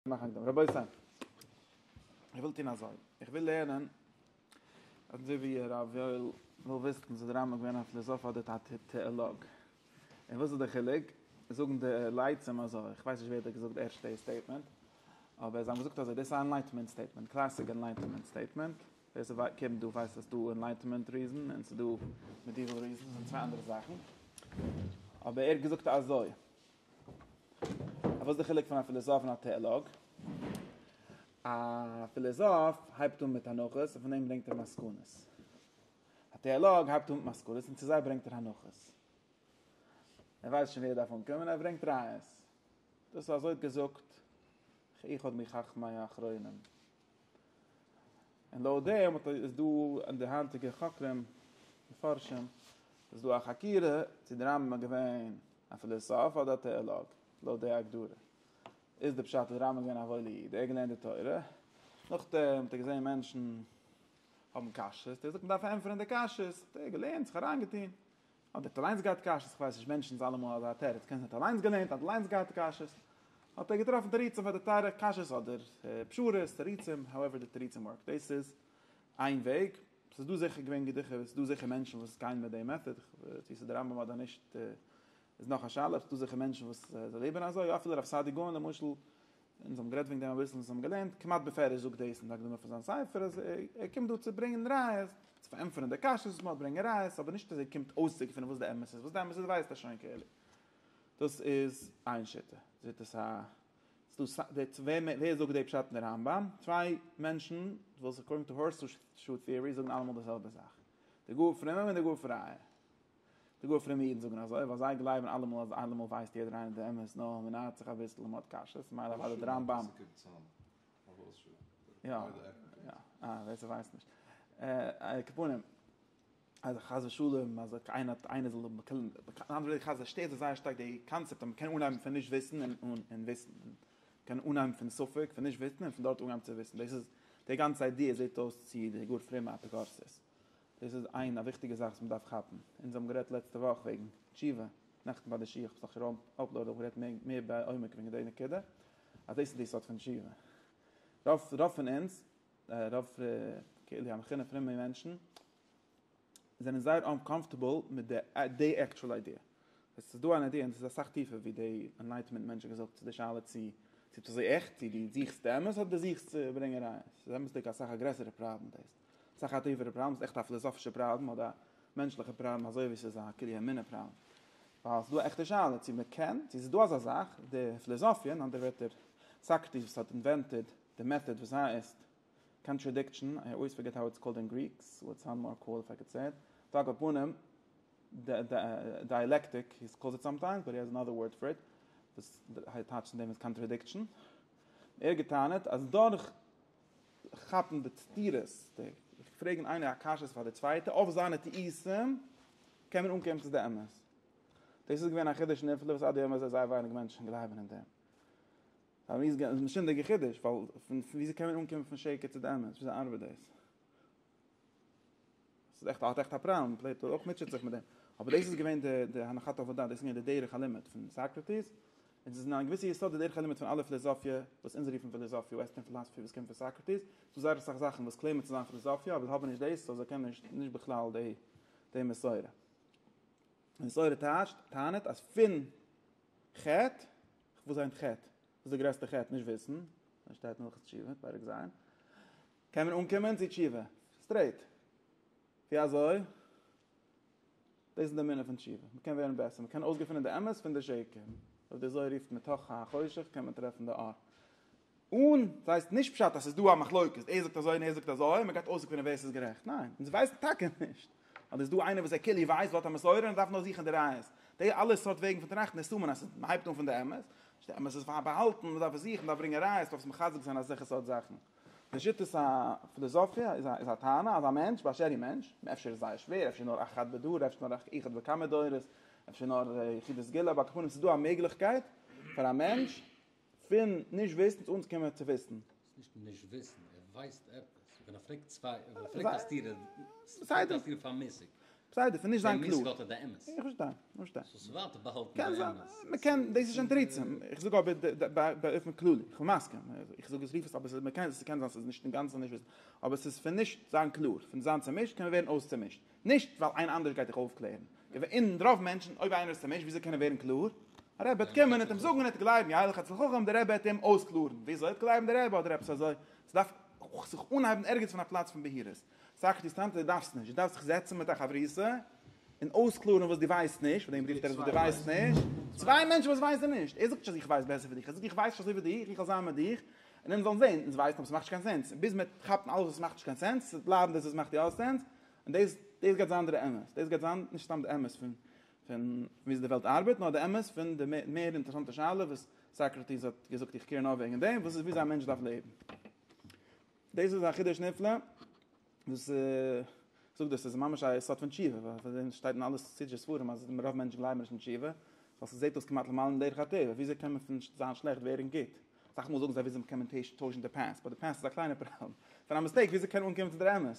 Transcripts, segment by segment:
מאכן הקדמה. רבותי, איך וויל טון אזוי. איך וויל לערנען, אזוי ווי הרב יואל וויל וויסן, איז דער רמבם געווען א פילאזאף אדער א טעאלאג? און וואס איז דער חילוק? זאגן די לייצים אזוי. איך ווייס נישט ווער האט געזאגט די ערשטע סטעיטמענט, אבער זיי האבן געזאגט אזוי. דאס איז א ענלייטענמענט סטעיטמענט, קלאסיק ענלייטענמענט סטעיטמענט. ווער ס'קען דא ווייסט אז ס'דא ענלייטענמענט ריזען און ס'דא מעדיוועל ריזען. ס'זענען צוויי אנדערע זאכן. אבער ער האט געזאגט אזוי. אבער וואס איז די חילוק פון א פילאזאף און א טעאלאג? א פילאזאף הייבט אן מיט הנחות און פון דעם ברענגט ער מסקנות. א טעאלאג הייבט אן מיט מסקנות און צו זיי ברענגט ער הנחות. ער ווייסט שוין ווי ער דארף אנקומען און ער ברענגט ראיות. דאס איז אזוי געזאגט איך עוד מחכמי האחרונים. און לויט דעם האט איז דא אין די היינטיגע חוקרים מפרשים איז דא א חקירה צו דער רמב ם איז געווען א פילאסאף אדער א טעאלאג, לויט די הגדרה איז די פשט אז רמב ם איז געווען א וואוילע איד ער האט געלערנט די תורה, נאכדעם האט ער געזען מענטשן האבן קשיות, ער האט געזאגט מ'דארף ענטפערן די קשיות, האט ער געלערנט זיך אריינגעטון, האט ער אליינס געהאט קשיות? כ'ווייס נישט, מענטשן זיי אלעמאל אזא תירוץ, קען זיין ער האט אליינס געלערנט, ער האט אליינס געהאט קשיות, האט ער געטראפן תירוצים פאר די תירץ, קשיות אדער פשרות, תירוצים, האועווער די תירוצים ווארק, דאס איז איין וועג, ס'איז דא זיכער געווען געדיכע, ס'איז דא זיכער מענטשן וואס גייען מיט די מעטאד, צו ס'איז די רמב ם אדער נישט איז נאך א שאלה, ס'איז דא זיכער מענטשן וואס זיי לעבן אזוי, אפילו הרב סעדיגורן למשל, אונז האבן גערעדט וועגן דעם אביסל, אונז האבן געלערנט, כמעט בפירוש זאגט דאס אין די הקדמה פון זיין ספר, אז ער קומט דא צו ברענגען ראיות, צו פארענטפערן די קשיות וואס מען האט, ברענגען ראיות, אבער נישט אז ער קומט אויסצוקערן וואס די אמת איז, וואס די אמת איז ווייסט ער שוין כאילו. דאס איז איין שיטה, שיטת ה. ס'איז דא צוויי, ווער זאגט די פשט אין די רמב ם? צוויי מענטשן וואס אקארדינג טו הארסשו טיערי זאגן אלעמאל די זעלבע זאך, די גאר פרומע און די גאר פרייע, די גאר פרומע אידן זאגן אזוי ווייל זיי גלייבן אלעמאל אז אלעמאל ווייסט יעדער איינער די אמת נאר מען נייערט זיך אביסל און מען האט קשיות ממילא אוודאי די רמב ם יא יא אה ווער ס'ווייסט נישט אה קעפונים אז חס ושלום אז איינער האט איינער זאל האבן חס ו שטערט זיי זייער שטארק די קאנצעפט אז מען קען אנהייבן פון נישט וויסן און און וויסן מען קען אנהייבן פון ספק פון נישט וויסן און פון דארט אנהייבן צו וויסן דאס איז די גאנצע איידיע זעט אויס צו די גאר פרומע אפיקורסות. דאס איז איין א וויכטיגע זאך וואס מען דארף כאפן, אונז האבן גערעדט לעצטע וואך וועגן תשובה, נעכטן ביי די שיעור, כ'האב זיכער אפלאודעד אויך גערעדט מער מער בעומק וועגן די נקודה, אז דאס איז די סוד פון תשובה. רוב רוב פון אונז, רוב קהלי המחונן פרומע מענטשן, זענען זייער אנקאמפארטעבל מיט די די עקטשועל איידיע. עס איז דא אן איידיע און עס איז אסאך טיפער ווי די ענלייטעמענט מענטש האט געזאגט צו די שאלה צו צו ביסט אזוי עכט, צו דו זוכסט אמת אדער דו זוכסט צו ברענגען ראיות. ס'איז אמת'דיג אסאך א גרעסערע פראבלעם דאס. ס'איז א חטיפה'דיגע פראבלעם, ס'איז עכט א פיליזאפישע פראבלעם אדער א מענטשליכע פראבלעם אזוי ווי ס'איז א כלי אמונה פראבלעם. ווייל ס'איז דא א עכטע שאלה צו מ'קען, צו ס'איז דא אזא זאך, די פיליזאפיע, אין אנדערע ווערטער סאקרטיס וואס האט אינווענטעד די מעטאד וואס הייסט קאנטראדיקשאן, איי אויס פארגעט האו איטס קאלד אין גריק, סא איטס סאונד מאר קאול איף איי קאלד סעי איט, טאג על פנים, דייעלעקטיק, הי קאלס איט סאמטיימס, באט הי העז ענאדער ווארד פאר איט, וואס טייטשט אין דעם איז קאנטראדיקשאן. ער האט גע'טענה'ט אז דורך כאפן די סתירות, די פרעגן איינער א קשיות פאר די צווייטע אויף זיינע טעותים, קען מען אנקומען צו די אמת. דאס איז געווען א חידוש נפלא וואס עד היום הזה זייער ווייניג מענטשן גלייבן אין דעם. פאר מיר איז עס א משונה'דיגע חידוש, ווייל וויאזוי קען מען אנקומען פון שקר צו די אמת, וויאזוי ארבעט דאס? ס'איז עכט האט עכט א פראבלעם, פלעטו אויך מוטשעט זיך מיט דעם, אבער דאס איז געווען די די הנחת העבודה, דאס איז געווען די דרך הלימוד פון סאקרעטיס, און ס'איז אין א געוויסע יסוד די דרך הלימוד פון אלע פיליזאפיע וואס אונז רופן פיליזאפיע, וועסטערן פילאזפי וואס קומט פון סאקרעטיס, ס'דא זייער אסאך זאכן וואס קלעימען צו זיין פיליזאפיע אבער האבן נישט דאס, סאו זיי קענען נישט נישט בכלל די די מסורה. מסורה טייטשט, טענה'ט אז פון חטא, וואס היינט חטא? וואס איז די גרעסטע חטא? נישט וויסן, און שטייט אין הלכות תשובה, פרק ז', קען מען אנקומען צו תשובה סטרעיט. ווי אזוי? דאס איז די מינע פון תשובה. מען קען ווערן בעסער, מען קען אויסגעפונען די אמת פון די שקר. אויב די זוהר רופט מתוך החושך קען מען טרעפן די אור. און דאס הייסט נישט פשט אז עס איז דא א מחלוקת, ער זאגט אזוי און ער זאגט אזוי און מען גייט אויסגעפונען ווער עס איז גערעכט. ניין, אונז ווייסן טאקע נישט. אדער איז דא איינער וואס ער כאילו ווייסט, וואלט א מסורה און ער דארף נאר זוכן די ראיות. די אלע סארט וועגן פון טראכטן איז סמן אז מען הייבט אן פון די אמת. די אמת איז פארבאהאלטן, מען דארף עס זוכן, מען דארף ברענגען ראיות, מען דארף זיך מחזק זיין אז זיך עס האט זאכן. לשיטת הפילוסופיה איז א טענה אז א מענטש באשר הוא מענטש, אפשר איז זייער שווער, אפשר נאר אחד בדור, אפשר נאר אחד בכמה דורות, אפשר נאר יחידי סגולה, אבער אקעפאן עס איז דא א מעגליכקייט פאר א מענטש פון נישט וויסן צו אנקומען צו וויסן. ס'איז נישט נישט וויסן, ער ווייסט עפעס, ווען ער פרעגט צוויי, ווען ער פרעגט א סתירה, ס'מיינט אז ער איז פארמעסיג. בסדר, פון נישט זיין קלאר. איך פארשטיי, פארשטיי. קען זיין, מ'קען, דאס איז שוין תירוצים. איך זאג אבער באופן כללי, איך בין מסכים. איך זאג עס ווי ס'איז, אבער מ'קען, ס'קען זיין ס'איז נישט אינגאנצן נישט וויסן. אבער ס'איז פון נישט זיין קלאר, פון זיין צומישט קען מען ווערן אויסצומישט. נישט ווייל איינער אנדערש גייט דיך אויפקלערן. אין רוב מענטשן, אויב איינער איז צומישט, וויאזוי קען ער ווערן קלאר? א רבי וועט קומען, עט'עם זאגן, עט'עם גלייבן, יא ילך אצל חכם, דער רבי וועט אים אויסקלארן. וויאזוי? עט'עם גלייבן די רבי אדער עפעס אזוי. ס'דארף זיך אנהייבן ערגעץ פון א פלאץ פון בהירות. סך נישט טאנצן, דו דארפסט נישט, דו דארפסט זיך זעצן מיט א חברותא און אויסקלארן וואס דו ווייסט נישט, פאר דעם רופט ער עס וואס דו ווייסט נישט, צוויי מענטשן וואס ווייסן נישט, ער זאגט נישט אז איך ווייס בעסער ווי דיך, ער זאגט איך ווייס נישט אזוי ווי דיך, איך וועל זיין מיט דיך, און אונז זאלן זען, אונז ווייסן אבער עס מאכט נישט קיין סענס, ביז מען וועט כאפן אלעס וואס מאכט נישט קיין סענס, צו בלייבן דאס וואס מאכט יא סענס, און דאס דאס גייט זיין דער אמת, דאס גייט זיין נישט סתם די אמת פון פון ווי אזוי די וועלט ארבעט, נאר די אמת פון די מער אינטערעסאנטע שאלה וואס סאקראטיס האט געזאגט איך קעיר נאר וועגן דעם, וואס איז ווי אזוי א מענטש דארף לעבן. דאס איז א חידוש נפלא, וואס זאגט דאס איז ממש א יסוד פון תשובה, ווייל פון דעם שטייט אין אלע חסידישע ספרים אז רוב מענטשן גלייבן נישט אין תשובה, ווייל ס'זעט אויס כמעט למעלה מדרך הטבע, וויאזוי קען מען פון זיין שלעכט ווערן גוט? אסאך מאל זאגן זיי וויאזוי קען מען טוישן די פּאַסט, באט די פּאַסט איז א קליינע פראבלעם, פון א מיסטעיק וויאזוי קען מען אנקומען צו דער אמת?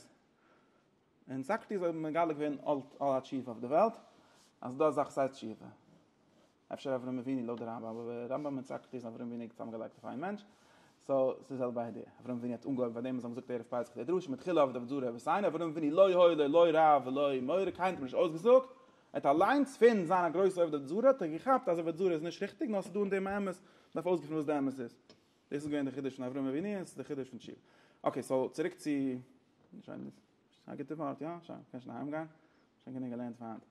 און סאקרטיס האט מגלה געווען אלט אלע תשובה אויף די וועלט אז דא אזאך סייז תשובה אפשר אברהם אבינו לויט די רמב ם אבער רמב ם און סאקרטיס און אברהם אבינו איז צוזאמגעלייגט אויף איין מענטש סאו ס'איז די זעלבע איידיע אברהם אבינו האט אנגעהויבן פאר דעם וואס זיי האבן געזאגט ערב פסח די דרשה מתחילה אבד אבד זרע וסיין אברהם אבינו לא היה לו לא רב ולא מורה קיינער האט אים נישט אויסגעזאגט ער האט אליינס פון זיין א גרויסע אבד אבד זרע האט ער געכאפט אז אבד זרע איז נישט ריכטיג נאר ס'איז דא אין דעם א אמת מ'דארף אויסגעפינען וואס די אמת איז דאס איז געווען די חידוש פון אברהם אבינו און עס איז די חידוש פון תשובה. אקעי סאו צוריק צו שיין דאס איז א גוטע ווארט יא שיין קען שוין אהיים גיין שוין גענוג געלערנט פאר היינט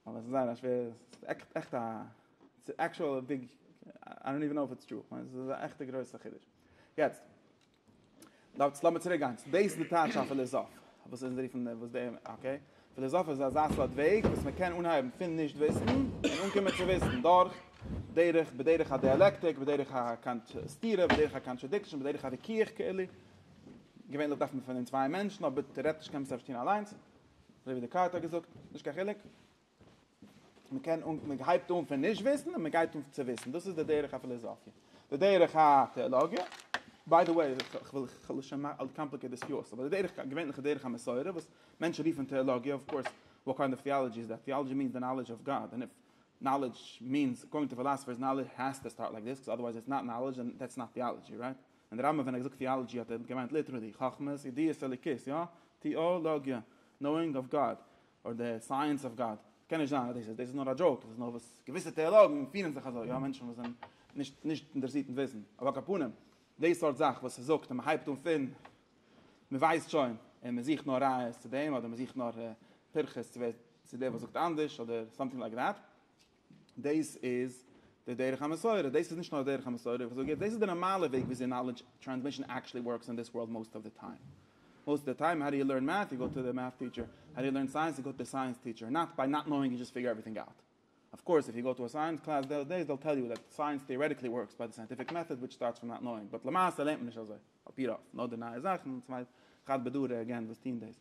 אבער עס איז זייער א שווערע עס איז עכט עכט א עס איז עקשועל א ביג איי דאנט איווען נאו איף איטס טרו כ'מיין עס איז א עכטע גרויסע חידוש יעצט דארטס לאמיר צוריק גיין צו דאס די טייטש א פיליזאף וואס אונז רופן וואס די אקעי פיליזאף איז אזא סארט וועג וואס מען קען אנהייבן פון נישט וויסן און אנקומען צו וויסן דורך דרך בדרך הדיאלעקטיק בדרך הקאנט סתירה בדרך הקאנטרעדיקשאן בדרך הוויכוח כאילו געווענליך דארף מען פון אין צוויי מענטשן אבער טערעטיש קען מען עס אפשר טון אליינס אזוי ווי דעקארט האט געזאגט נישט קיין חילוק. מען קען און מען הייבט אן פון נישט וויסן און מען גייט אן צו וויסן דאס איז די דרך הפיליזאפיע די דרך הטעאלאגיע ביי די וועי איך וויל איך וויל שוין מאכן קאמפליקעט דיס פיאות אבער די דרך געווענליכע דרך המסורה וואס מענטשן רופן טעאלאגיע אויף קורס וואט קיינד אוו טעאלאגיע איז דעט טעאלאגיע מיענס די נאלעדזש אוו גאד און איף נאלעדזש מיענס אקארדינג טו פיליזאפיערס נאלעדזש העז טו סטארט לייק דיס קאוז אדערווייז איטס נאט נאלעדזש און דעטס נאט טעאלאגיע רייט און די רמבם ווען ער האט געזאגט טעאלאגיע האט ער געמיינט ליטערלי חכמות ידיעות אלוקית יא טעאלאגיע נאואינג אוו גאד אדער די סייענס אוו גאד, ס'קען נישט זיין אז דאס איז נאר א דזשאוק, דאס איז נאר וואס געוויסע טעאלאגן פירן זיך אזוי, יא מענטשן וואס זענען נישט נישט אינטערעסירט אין וויסן, אבער על כל פנים די סארט זאך וואס ער זאגט און מען הייבט אן פון מען ווייסט שוין און מען זוכט נאר ראיות צו דעם אדער מען זוכט נאר פירכות צו ווער צו דער וואס זאגט אנדערש אדער סאמטינג לייק דעט. דאס איז די דרך המסורה, דאס איז נישט נאר די דרך המסורה, איך זאג יעצט, דאס איז די נארמאלע וועג וויאזוי נאלעדזש טרענסמישן עקטשעלי ווארקס אין דיס ווארלד מאסט אוו די טיים. מאסט אוו די טיים האו דו יו לערן מעט, יו גאו טו די מעט טיטשער, האו דו יו לערן סייענס, יו גאו טו די סייענס טיטשער, נאט ביי נאט נאוינג יו דזשאסט פיגור עווריטינג אוט. אוו קאורס איף יו גאו טו א סייענס קלאס דעיס דעיס דעיל טעל יו דעט סייענס טעארעטיקלי ווארקס ביי די סייענטיפיק מעטאד וויטש סטארטס פראם נאט נאוינג באט למעשה לערנט מען נישט אזוי, אפי' רוב, נאר די נייע זאכן, צוויי חד בדרא עגעין וואס טוהן דאס.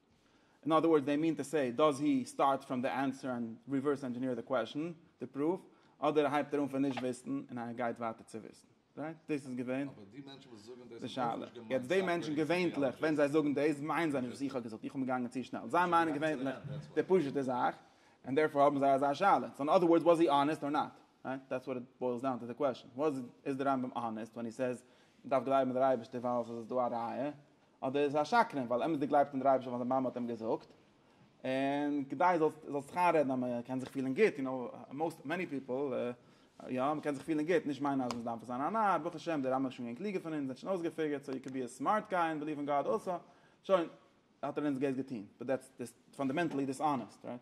אין אדער ווארדס דעי מין טו סעי דאז הי סטארט פראם די ענסער ענד ריווערס ענדזשעניר די קוועשן די פרוף אדער הייבט ער אן פון נישט וויסן און א גייט ווייטער צו וויסן רייט דאס איז געווען די שאלה יעצט דעי מענטשן געווענטליך ווען זיי זאגן דאס מיינען זיי נישט וואס איך האב געזאגט איך בין געגאנגען צו שנעל זיי מיינען געווענטליך די פשוטע זאך ענד דערפאר האבן זיי אזא שאלה סאו אין אדער ווארדס וואס הי אנעסט אר נאט רייט דעטס וואט איט בוילס דאון טו די קוועשן וואס איז די רמב ם אנעסט ווען הי סעיז מען דארף גלייבן אין די אייבערשטער ווייל עס איז דא א ראיה אדער איז ער א שקרן ווייל אמת'דיג גלייבט אין דער אייבערשטער ווייל זיין מאמע האט אים געזאגט, און כדי זאלסט זאלסט זיך איינרעדן אז מען קען זיך פילן גוט, יו נאו, מאוסט, מעני פיפל, יא, מען קען זיך פילן גוט, נישט מיינען אז מען דארף זיין א נאר, ברוך השם, די רמב ם איז שוין געווען קלוגער פון אונז, ער האט שוין אויסגעפיגערט, סאו יו קען בי א סמארט גיי און ביליוו אין גאד אלסא, שוין, האט ער אונז גוט געטון, באט דעטס פאנדעמענטלי דיסאנעסט, רייט?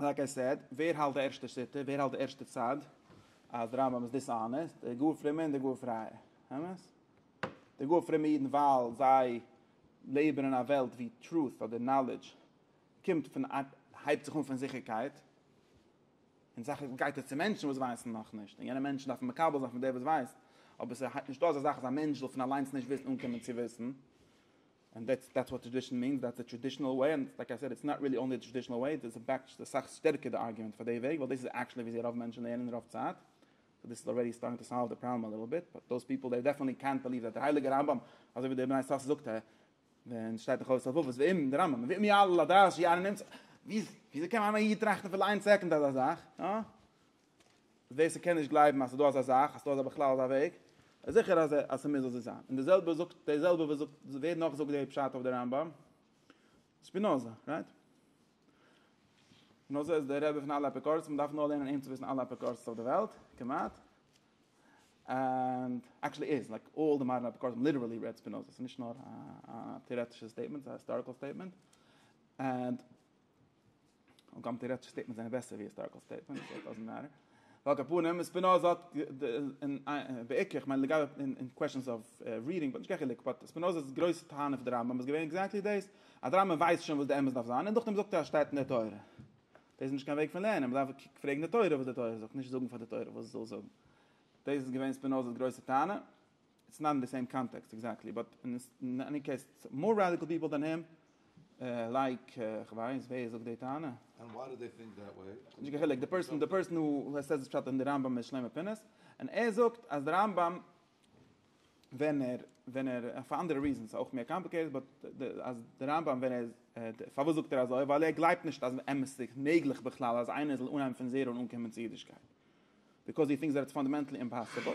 לייק איי סעד, ווער האלט די ערשטע שיטה? ווער האלט די ערשטע צד אז די רמב ם איז דיסאנעסט? די גאר פרומע און די גאר פרייע. אמת? די גאר פרומע אידן ווייל זיי לעבן אין א וועלט ווי טרוט אדער נאלעדזש קומט פון הייבט זיך אן פון זיכערקייט, און סך הכל גייט עס צו מענטשן וואס ווייסן נאך נישט, און יענע מענטשן דארפן מקבל זיין פון דער וואס ווייסט, אבער ס'הייבט נישט אן אזא זאך אז א מענטש זאל פון אליינס נישט וויסן אן קומען צו וויסן. ענד דעטס דעטס וואט טראדישן מיענס, דעטס די טראדישענעל וועי, ענד לייק איי סעד איטס נאט ריעלי אנלי די טראדישענעל וועי, דאס איז בעק צו אסאך שטערקער די ארגומענט פאר די וועג, ווייל דאס איז עקשעלי וויאזוי רוב מענטשן לערנען רוב צייט, סאו דאס איז אלרעדי סטארטינג טו סאלוו די פראבלעם א ליטל ביט, באט דאס פיפל דעי דעפענטלי קענט בעליוו דעט די הייליגע רמב ם, אזוי ווי דער בני שש זאגט ע ב און ס'שטייט אין חובת הלבבות ואם דער רמב ם ואם יעלה על הדעת שיען א נמצא, וויאזוי קען איין איד טראכטן אפילו איין סעקונד אזא זאך? ווער ס'קען נישט גלייבן אז ס'איז דא אזא זאך, אז ס'איז דא בכלל אזא וועג, איז זיכער אז אז ס'מוז אזוי זיין. און די זעלבע זאגט, די זעלבע וואס זאגט, ווער נאך זאגט די פשט אויף די רמב ם? שפינאזא, רייט? שפינאזא איז דער רבי פון אלע אפיקורסים, מ'דארף נאר לערנען אים צו וויסן אלע אפיקורסים אויף די וועלט, כמעט. ענד עקשעלי איז, לייק אלל די מאדערן אפיקורסים ליטערעלי רעד שפינאזא, ס'נישט נאר א טעארעטישע סטעיטמענט, ס'איז א היסטאריקעל סטעיטמענט. ענד. און קאָמט און רעדט שוין סטעיטמענטס זענען בעסער ווי היסטאריקעל סטעיטמענטס, סאָ דאזענט מעטער. ועל כּפּנים, ספּינאָזע האָט און בעיקר, איך מיין לגבי אין קוועשאנס אוו רידינג וואלט נישט קיין חילוק, באט ספּינאָזע'ס גרויסע טענה אויף די רמב ם איז געווען עקזעקטלי דאס, אז די רמב ם ווייסט שוין וואס די אמת דארף זיין און דורכדעם זאגט ער אז עס שטייט אין דער תורה. דאס איז נישט קיין וועג פון לערנען, מען דארף פרעגן די תורה וואס די תורה זאגט, נישט זאגן פאר די תורה וואס זי זאל זאגן. דאס איז געווען ספּינאָזע'ס גרויסע טענה. איטס נאט אין די סעים קאנטעקסט עקזעקטלי באט אין עני קעיס מאר רעדיקעל פיפעל דען הים לייק כ'ווייס ווער זאגט די טענה? ענד וואי דו דיי טינק דעט וועי? נישט קיין חילוק די פערסאן די פערסאן הו סעיס דיס פשט אין די רמב ם איז שלמה פינס און ער זאגט אז די רמב ם ווען ער ווען ער פאר אנדערע ריזענס אויך מער קאמפליקעיטעד באט אז די רמב ם ווען ער פארוואס זאגט ער אזוי ווייל ער גלייבט נישט אז באמת איז מעגליך בכלל אז איינער זאל אנהייבן פון זערא און אנקומען צו אידישקייט ביקאוז הי טינקס דעט איטס פאנדעמענטלי אימפאסיבל.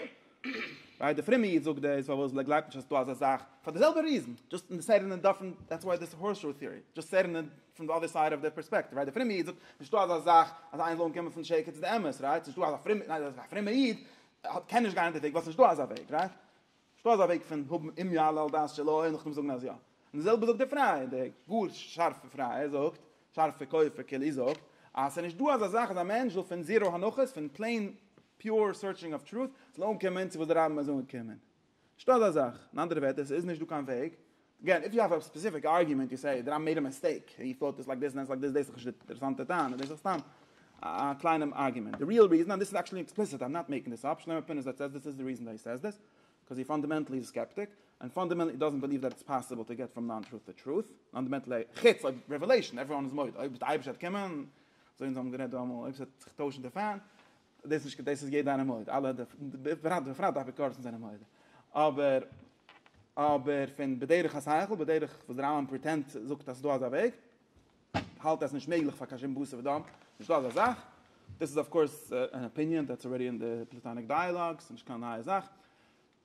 רייט די פרומע איד זאגט דאס פארוואס ווייל ער גלייבט נישט אז ס'איז דא אזא זאך פאר די זעלבע ריזען דזשאסט אין די סעט אין די דיפרענט דעטס וואי דיס הארס שו טעארי דזשאסט סעט אין פרום די אדער סייד אוו די פערספעקטיוו רייט די פרומע איד זאגט נישטא אזא זאך אז איינער זאל אנקומען פון שקר צו די אמת רייט ס'נישטא אזא פרומע ניין א פרומע איד קען נישט גיין אין די וועג ווייל ס'נישטא אזא וועג רייט. שטא אזא וועג פון האבן אם יעלה על דעת שלא און נאכדעם זאגן אז יא? און די זעלבע זאגט דער פרייער, דער גאר שארפע פרייער זאגט, שארפע כופר כללי זאגט, אז ס'איז נישט דא אזא זאך אז א מענטש זאל פון זירא הנחות, פון פלעין פיור סורטשינג אויף טרוט, זאל אנקומען צו וואס די רמב ם איז אנגעקומען. שטא אזא זאך. אין אנדערע ווערטער, ס'איז נישט דא קיין וועג אגעין איף יו האוו א ספעסיפיק ארגיומענט יו סעי דעט איי מעיד א מיסטעיק און יו פאוט דעס לייק דעס און דעס לייק דעס דאס איז דאך נישט די אינטערעסאנטע טענה דאס איז דאך סתם א קליינע ארגיומענט די ריעל ריזען און דאס איז עקשעלי עקספליסיט איים נאט מעיקינג דאס אפ שלמה פין איז דאס דאס איז די ריזען וואי הי סעיס דאס קאוז הי פאנדעמענטלי איז א סקעפטיק און פאנדעמענטלי הי דאזענט בעליוו דעט איטס פאסיבל טו געט פראם נאן טרוט טו טרוט פאנדעמענטלי חוץ אויב רעוועלעישאן עוועריוואן איז מודה אויב די אייבערשטער וועט קומען אזוי אונז האבן גערעדט דא אמאל אויב ס'וועט זיך טוישן די פען דאס נישט דאס איז יעדער איינער מודה אלע בפרט בפרט די אפיקורסים זענען מודה אבער אבער פון בדרך השכל בדרך וואס דער רמבם פריטענט זאגט אז דא אזא וועג האלט עס נישט מעגליך פאר קשים בוסע ודם נישט דא אזא זאך דאס איז אויף קורס אן אפיניען דעטס אלרעדי אין די פלעטאניק דיאלאגס נישט קיין נייע זאך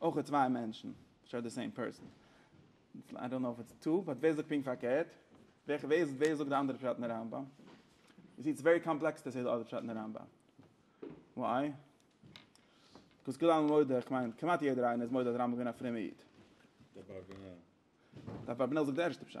אויך איז צוויי מענטשן אפשר די סעים פערסאן, איי דאנט נאו איף איטס טו, באט ווער זאגט פונקט פארקערט? ווער זאגט די אנדערע פשט אין די רמב ם? יו סי איטס ווערי קאמפלעקס טו סעי די אדער פשט אין די רמב ם, וויי? ביקאוז כולנו מודה, איך מיין כמעט יעדער איינער איז מודה אז רמב ם איז געווען א פרומער איד. דער אברבנאל זאגט די ערשטע פשט.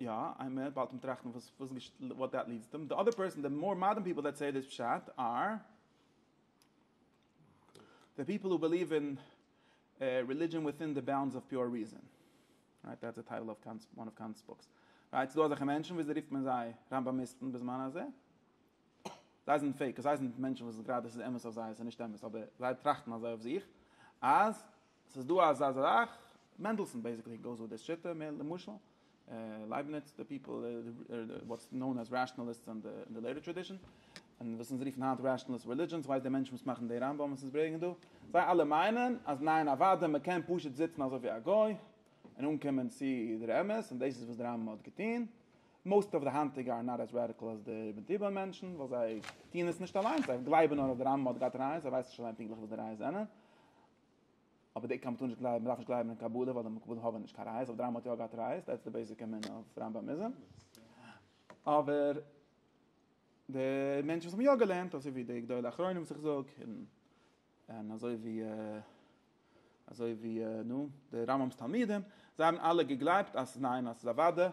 יא, איי מער באלד מען טראכט וואס וואס וואט דעט ליעדס דעם, די אדער פערסאן, די מאר מאדערן פיפל דעט סעי דיס פשט אר די פיפל הו בעליוו אין רעלידזשען וויטין די באונדס אוו פיור ריזען. רייט, דעטס די טייטל אויף קאנט'ס וואן אוו קאנט'ס בוקס. רייט, ס'דא אזעלכע מענטשן וויאזוי רופט מען זיי? ראמבאמיסטן בזמן הזה. זיי זענען פעיק, זיי זענען מענטשן וואס גראדע ס'איז אמת אויף זיי, ס'איז נישט אמת, אבער זיי טראכטן אזוי אויף זיך אז ס'איז דא אזא זאך, מענדלסאן בעיסיקלי גאוס וויט דיס שיטה מער, למשל לייבניץ, די פיפל וואטס נאון עז רעשאנעליסטס אין די לעיטער טראדישאן, און וואס אונז רופן היינט רעשאנעליסט רעלידזשאן, ס'ווייסט דער מענטש וואס מאכן די רמב ם'ס אונז ברעגן דא, זיי אלע מיינען אז ניין אוודאי מ'קען פשוט זיצן אזוי ווי א גוי און אנקומען צו דער אמת, און דאס איז וואס דער רמב ם האט געטון, מאוסט אוו די היינטיגע אר נאט עז רעדיקל עז די איבן תיבון מענטשן, ווייל זיי טוען עס נישט אליינס, זיי גלייבן נאר אז דער רמב ם האט געהאט רייעס, זיי ווייסן נישט אליין פונקטליך וואס די רייעס זענען. אבער די עיקר מ'טאר נישט גלייבן, מ'דארף נישט גלייבן אין קבלה ווייל די מקובלים האבען נישט קיין ראיות, אבער די רמבם האט יא געהאט ראיות, דעטס די בעיסיק אמונה אויף רמבמיזם. אבער די מענטשן וואס האבן יא געלערנט, אזוי ווי די גדולי אחרונים וואס איך זאג, און אזוי ווי אזוי ווי נו, די רמבם'ס תלמידים, זיי האבן אלע געגלייבט אז ניין אז ס'איז אוודא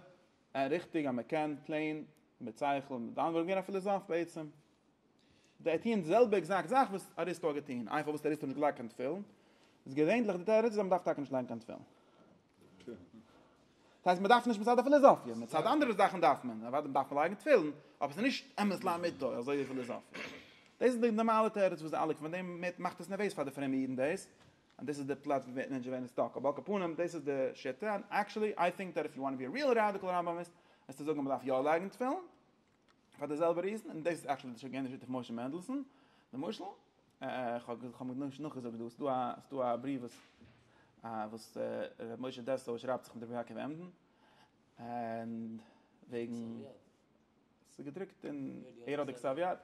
און ריכטיג אז מ'קען פלעין מיט שכל, דאן וואלט ער געווען א פיליזאף בעצם. זיי טוען די זעלבע עקזעקט זאך וואס אריסטו האט געטון, איינפאל וואס אריסטו האט נישט געלייגט קיין תפילין, איז געווענדליך די תירוץ אז מ'דארף טאקע נישט לייגן קיין תפילין. דאס הייסט מ'דארף נישט מצד די פיליזאפיע, מצד אנדערע זאכן דארף מען, אוודאי דארף מען לייגן תפילין, אבער ס'איז נישט אמת לאמיתו אזוי ווי פיליזאפיע. דאס איז די נארמאלע תירוץ וואס די אלע, פון דעם מאכט עס נערוועז פאר די פרומע אידן דאס, אז דאס איז די פלאץ ווי מענטשן ווערן סטאק, אבער על כל פנים דאס איז די שיטה, עקשעלי איי טינק דעט איף יו וואנט טו בי א ריעל ראדיקעל ראמבאמיסט, וועסטו זאגן אז מ'דארף יא לייגן תפילין, פאר די זעלבע ריזן, און דאס איז עקטשועלי די שגעונות שיטה פון משה מענדלסאן, למשל, כ'האב כ'האב נישט נאכגעזאגט דא, ס'דא א ס'דא א בריוו וואס וואס ר' משה דעסאו שרייבט זיך מיט רבי יעקב עמדין, וועגן ס'איז געדרוקט אין, ער האט די כתב יד,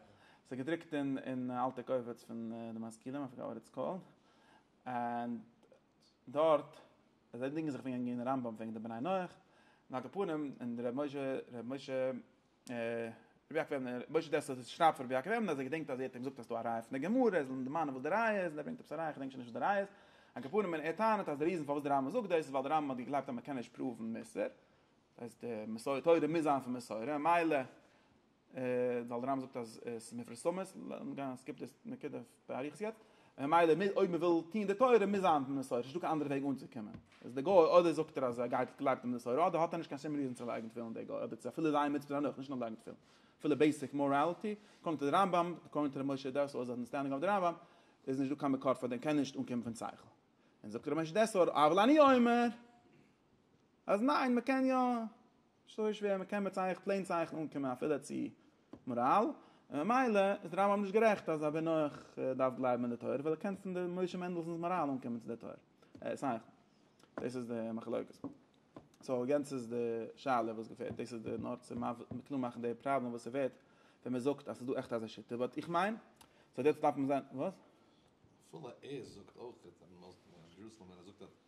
ס'איז געדרוקט אין אלטע קובץ פון די משכילים, איי פארגאט וואט איטס קאלד, ענד. דארט זיי דינגען זיך וועגן אין רמב ם וועגן די בני נח, על כל פנים און ר' משה ר' משה ר' יעקב וועבנער ר' משה דעסלער זצ ל שרייבט פאר ר' יעקב וועבנער אז ער געדענקט אז ער האט אים געזאגט אז ס'איז דא א ראיה פון די גמרא ער זאל אים דערמאנען וואס די ראיה איז און ער ברענגט עפעס א ראיה כ'דענק שוין נישט וואס די ראיה איז, על כל פנים און ער טענה'ט אז די ריזען פארוואס די רמב ם זאגט דאס איז ווייל די רמב ם האט געגלייבט אז מ'קען נישט פראוון מוסר, דאס הייסט די מסורה תורה מוז זיין פון מסורה ממילא ווייל די רמב ם זאגט אז עס איז מפורסמות, לאמיר גיין אז סקיפט דאס נקודה באריכות יעצט, ממילא אויב מען וויל טוהן די תורה מוז זיין מסורה, ס'נישטא קיין אנדערע וועג אנצוקומען, איז די גוי אדער זאגט ער אז ער גייט גלייבט אין מסורה אדער האט ער נישט קיין שום ריזען צו לייגן תפילין די גוי, אדער צו אפילו זיין מצוות דערנאך נישט נאר לייגן תפילין, אפילו בעיסיק מאראליטי, אקארדינג טו די רמב ם, אקארדינג טו ר' משה דעסור איז אנדערסטענדינג אויף די רמב ם, איז נישטא קיין מקור פאר דעם קען נישט אנקומען פון שכל, און זאגט ר' משה דעסור אבל אני אומר אז ניין מען קען יא. נישט אזוי שווער, מען קען מיט צייכן, פלעין צייכן אנקומען אפילו צו מאראל, און ממילא איז די רמב ם נישט גערעכט אז א בן נח דארף גלייבן אין די תורה, ווייל ער קען פון די משה מענדלסאן'ס מאראל אנקומען צו די תורה, צייכן. דאס איז די מחלוקת. סאו יענץ איז די שאלה וואס געפעלט, דאס איז די נאר צו קלאר מאכן די פראבלעם וואס ס'ווערט ווען מען זאגט אז ס'איז דא עכט אזא שיטה, באט איך מיין סאו יעצט דארף מען זיין, וואס? אפילו ער זאגט אויך אז ירוסלם ווען ער זאגט אז.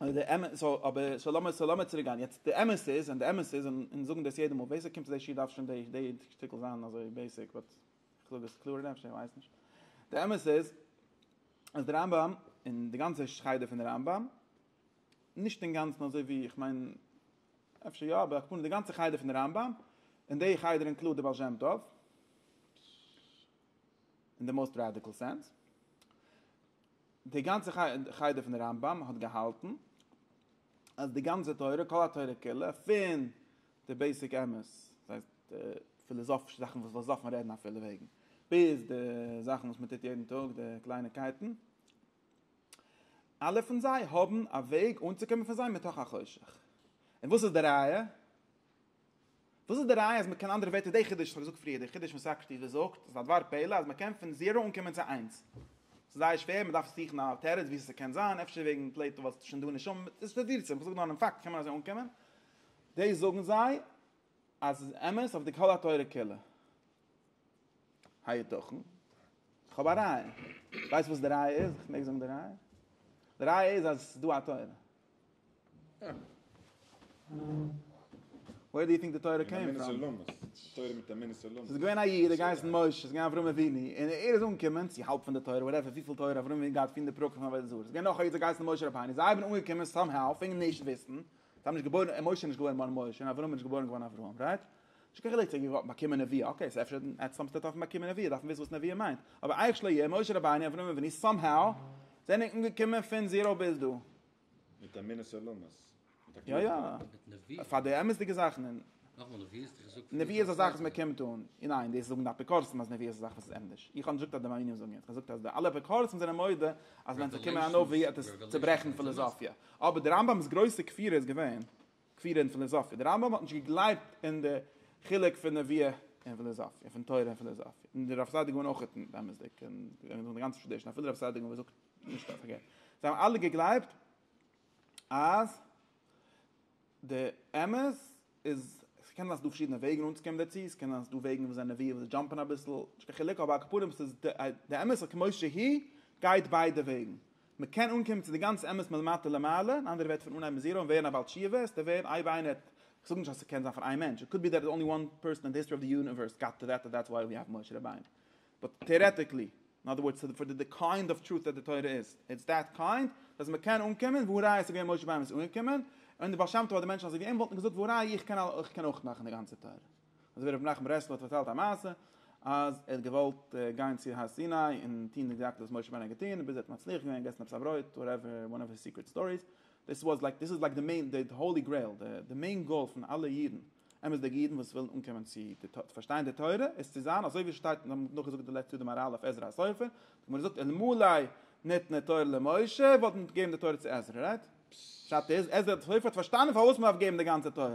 אבער די אמת איז, סאו אבער סאו לאמיר סאו לאמיר צוריק גיין יעצט, די אמת איז און די אמת איז און אונז זאגן דאס יעדע מאל, ווער ס'קומט צו די שיעור דארף שוין די די שטיקל זיין אזוי בעיסיק, באט איך זאג עס קלארער אפשר איר ווייסט נישט, די אמת איז אז די רמב ם און די גאנצע חדר פון די רמב ם, נישט אינגאנצן אזוי ווי איך מיין אפשר יא אבער הכוונה די גאנצע חדר פון די רמב ם און די חדר אינקלוד די בעל שם טוב, אין די מאוסט ראדיקעל סענס, די גאנצע חדר פון די רמב ם האט געהאלטן אז די גאנצע תורה, כל התורה כולה, פון די בעיסיק אמת, דאס הייסט די פיליזאפישע זאכן וואס וואס דארף מען רעדן אפילו וועגן, ביז די זאכן וואס מען טוט יעדן טאג, די קלייניקייטן, אלע פון זיי האבן א וועג אנצוקומען פון זיי מתוך החושך. און וואס איז די ראיה? וואס איז די ראיה אז מ'קען אנדערע ווערטער די חידוש וואס כ'האב געזאגט פריער די חידוש פון סאקרטיס וואס זאגט אז א דבר פלא אז מ'קען פון זירא אנקומען צו איינס ס'איז זייער שווער מ'דארף זוכן א תירוץ וואו ס'קען זיין אפשר וועגן פלעטא ווייל ס'איז שוין דא נשמה מיט ס'איז תירוצים איך זאג נאר דעם פאקט קען מען אזוי אנקומען דאס זאגן זיי אז ס'איז אמת אויף די כל התורה כולה היתכן? כ'האב א ראיה ווייסט וואס די ראיה איז? כ'מעג זאגן די ראיה? די ראיה איז אז ס'איז דא א תורה ווער דו יו טינק די תורה קען פראם? א מינוס עולמות, תורה מיט א מינוס עולמות. ס'איז געווען א איד, ער האט געהייסן משה, ס'איז געווען אברהם אבינו, און ער איז אנגעקומען צו האלב פון די תורה, וואטעווער וויפיל תורה אברהם אבינו האט געהאט פון די פרקים פון עבודה זרה. ס'איז געווען נאך א איד, ס'האט געהייסן משה רבינו, זיי זענען אנגעקומען סאם האו, פונקט נישט וויסן, זיי האבן נישט געבוירן, משה איז נישט געווארן נאר משה, און אברהם איז נישט געבוירן געווארן אברהם, רייט? נישט קיין חילוק צו ער האט געוואלט באקומען נביאה, אקעי ס'איז אפשר עטץ האט ער דארפן באקומען נביאה דארף מען וויסן וואס נביאה מיינט, אבער אייך שלא יהיה, משה רבינו, אברהם אבינו, סאם האו זענען אנגעקומען פון זיראו ביז דא. מיט א מינוס עולמות. יא יא. פאר די אמת'דיגע זאכן און. נאכאמאל, נביאה איז דאך א זאג. נביאה איז א זאך וואס מען קומט אן. ניין, דאס זאגן די אפיקורסים אז נביאה איז א זאך וואס איז ענדערש. איך האב נישט געזאגט אז די מאמינים זאגן עס, איך האב געזאגט אז די אלע אפיקורסים זענען מודה אז ווען ס'קומען א נביא וועט עס צוברעכן פילאזאפיע. אבער די רמב ם'ס גרויסע כפירה איז געווען. כפירה אין פיליזאפיע. דער רמב ם האט נישט געגלייבט אין די חילוק פון נביאה און פיליזאפיע, פון תורה און פיליזאפיע. און דער רב סעדיגון אויכעט נישט, אמת'דיג, און די גאנצע טראדישן, אפילו רב סעדיגון וואס זאגט נישט א פארקערט. זיי האבן אלע געגלייבט אז די אמת איז, עס קען זיין ס'איז דא פארשידענע וועגן אנצוקומען דערצו, עס קען זיין ס'איז דא וועגן וואס זענען נביאים וואס זיי דזשאמפען אביסל, נישט קיין חילוק, אבער על כל פנים ס'איז די אמת על כמות שהיא, גייט ביידע וועגן. מען קען אנקומען צו די גאנצע אמת מלמטה למעלה, אין אנדערע ווערטער פון אנהייבן זיראו און ווערן א בעל תשובה, עס טאר ווערן אייב איינער האט, איך זאג נישט אז עס קען זיין פאר איין מענטש, איט קאוד בי דעט איז אנלי וואן פערסאן אין די היסטארי אוו די יוניווערס גאט טו דעט און דעטס וויי ווי האוו משה רבינו, באט טעארעטיקלי, אין אדער ווארדס פאר די קיינד אוו טרוט דעט די תורה איז, איטס דעט קיינד, אז מען קען אנקומען, והא ראיה ס'געווען משה רבינו וואס איז אנגעקומען, און די בעל שם טוב אדער מענטשן אזוי ווי אים וואלטן געזאגט והא ראיה איך קען אויך נאכמאכן די גאנצע תורה. אזוי ווי ר' מנחם ברסלב האט פארציילט א מעשה אז ער האט געוואלט גיין צו הר סיני און טון די גזירה וואס משה רבנו האט געטון און ביז ער האט מצליח געווען געסן עפעס א ברויט וואטעווער וואן אוו היז סיקרעט סטאריס דאס וואס לייק דאס איז לייק די מעין די האולי גרעיל די די מעין גאול פון אלע אידן אמת'דיגע אידן וואס ווילן אנקומען צו די תו פארשטיין די תורה איז צו זיין אזוי ווי עס שטייט מיר האבן נאך געזאגט די לעצט יאר די מאראל אויף עזרא הסופר די גמרא זאגט אלמלא ניתנה תורה למשה וואלט מען געגעבן די תורה צו עזרא רייט? פשט איז עזרא הסופר האט פארשטאנען פארוואס מען דארף געבן די גאנצע תורה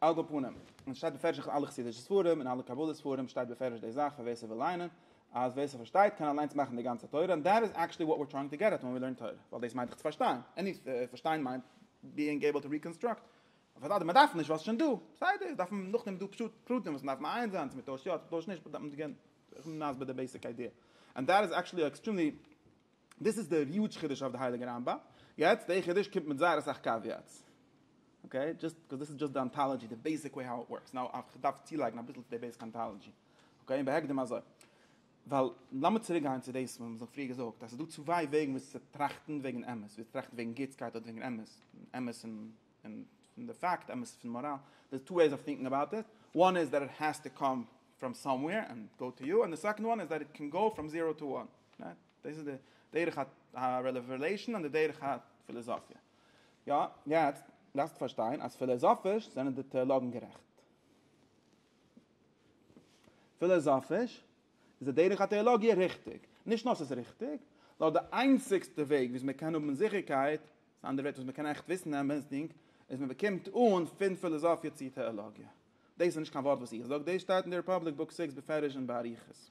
על כל פנים, עס שטייט בפירוש אין אלע חסידישע ספרים און אלע קבלה ספרים שטייט בפירוש די זאך פאר ווער ס'וויל ליינען, אז ווער ס'פארשטייט קען אליינס מאכן די גאנצע תורה, און דעט איז עקשעלי וואט ווער טרייאינג טו געט עט ווען ווי לערן תורה, ווייל דאס מיינט דאך צו פארשטיין, עני פארשטיין מיינט ביאינג עיבל טו ריקאנסטראקט, אוודאי מען דארף נישט ווייל עס איז שוין דא, בסדר, דארף מען נאכדעם דא פשוט פרטים וואס מען דארף מעיין זיין צו מען טוישט יא צו מען טוישט נישט, באט דארף מען זיך געבן א נסבער די בעיסיק איידיע, ענד דעט איז עקשעלי עקסטרעמלי דאס איז דער יוטש חידוש אויף די הייליגע רמב ם, יעצט דער חידוש קומט מיט זייער אסאך קעוויעטס, אקעי, דזשאסט קאוז דאס איז דזשאסט די אנטאלאג'י, די בעיסיק וועי האו איט ווארקס, נאו אוו כ'דארף צולייגן אביסל צו די בעיסיק אנטאלאג'י, אקעי, און בהקדם אזוי, ווייל לאמיר צוריק גיין צו דאס וואס מ'האט פריער געזאגט אז ס'איז דא צוויי וועגן וויאזוי צו טראכטן וועגן אמת, וויאזוי צו טראכטן וועגן גוטסקייט אדער וועגן אמת, אמת פון פון די פאקט, אמת פון מאראל, דער איז טו וועיס אוו טינקן אבאוט איט, וואן איז דעט איט העז טו קאם פראם סאמוועיר ענד גאו טו יו, און די סעקאנד וואן איז דעט איט קען גאו פראם זירא טו וואן, רייט? דאס איז די דרך הרעוועלעשאן און די דרך הפיליזאפיע. יא, יעצט דארפסטו פארשטיין אז פיליזאפיש זענען די טעאלאגן גערעכט. פיליזאפיש איז די דרך הטעאלאגיע ריכטיג. נישט נאר ס'איז ריכטיג, נאר די איינציגסטע וועג וויאזוי מ'קען האבן זיכערקייט, מיט אנדערע ווערטער וואס מ'קען עכט וויסן אמת'דיג, איז מ'באקומט אן פון פיליזאפיע צו טעאלאגיע. דאס איז נישט קיין ווארט וואס איך זאג, דאס שטייט אין די ריפאבליק בוק סיקס בפירוש און באריכות.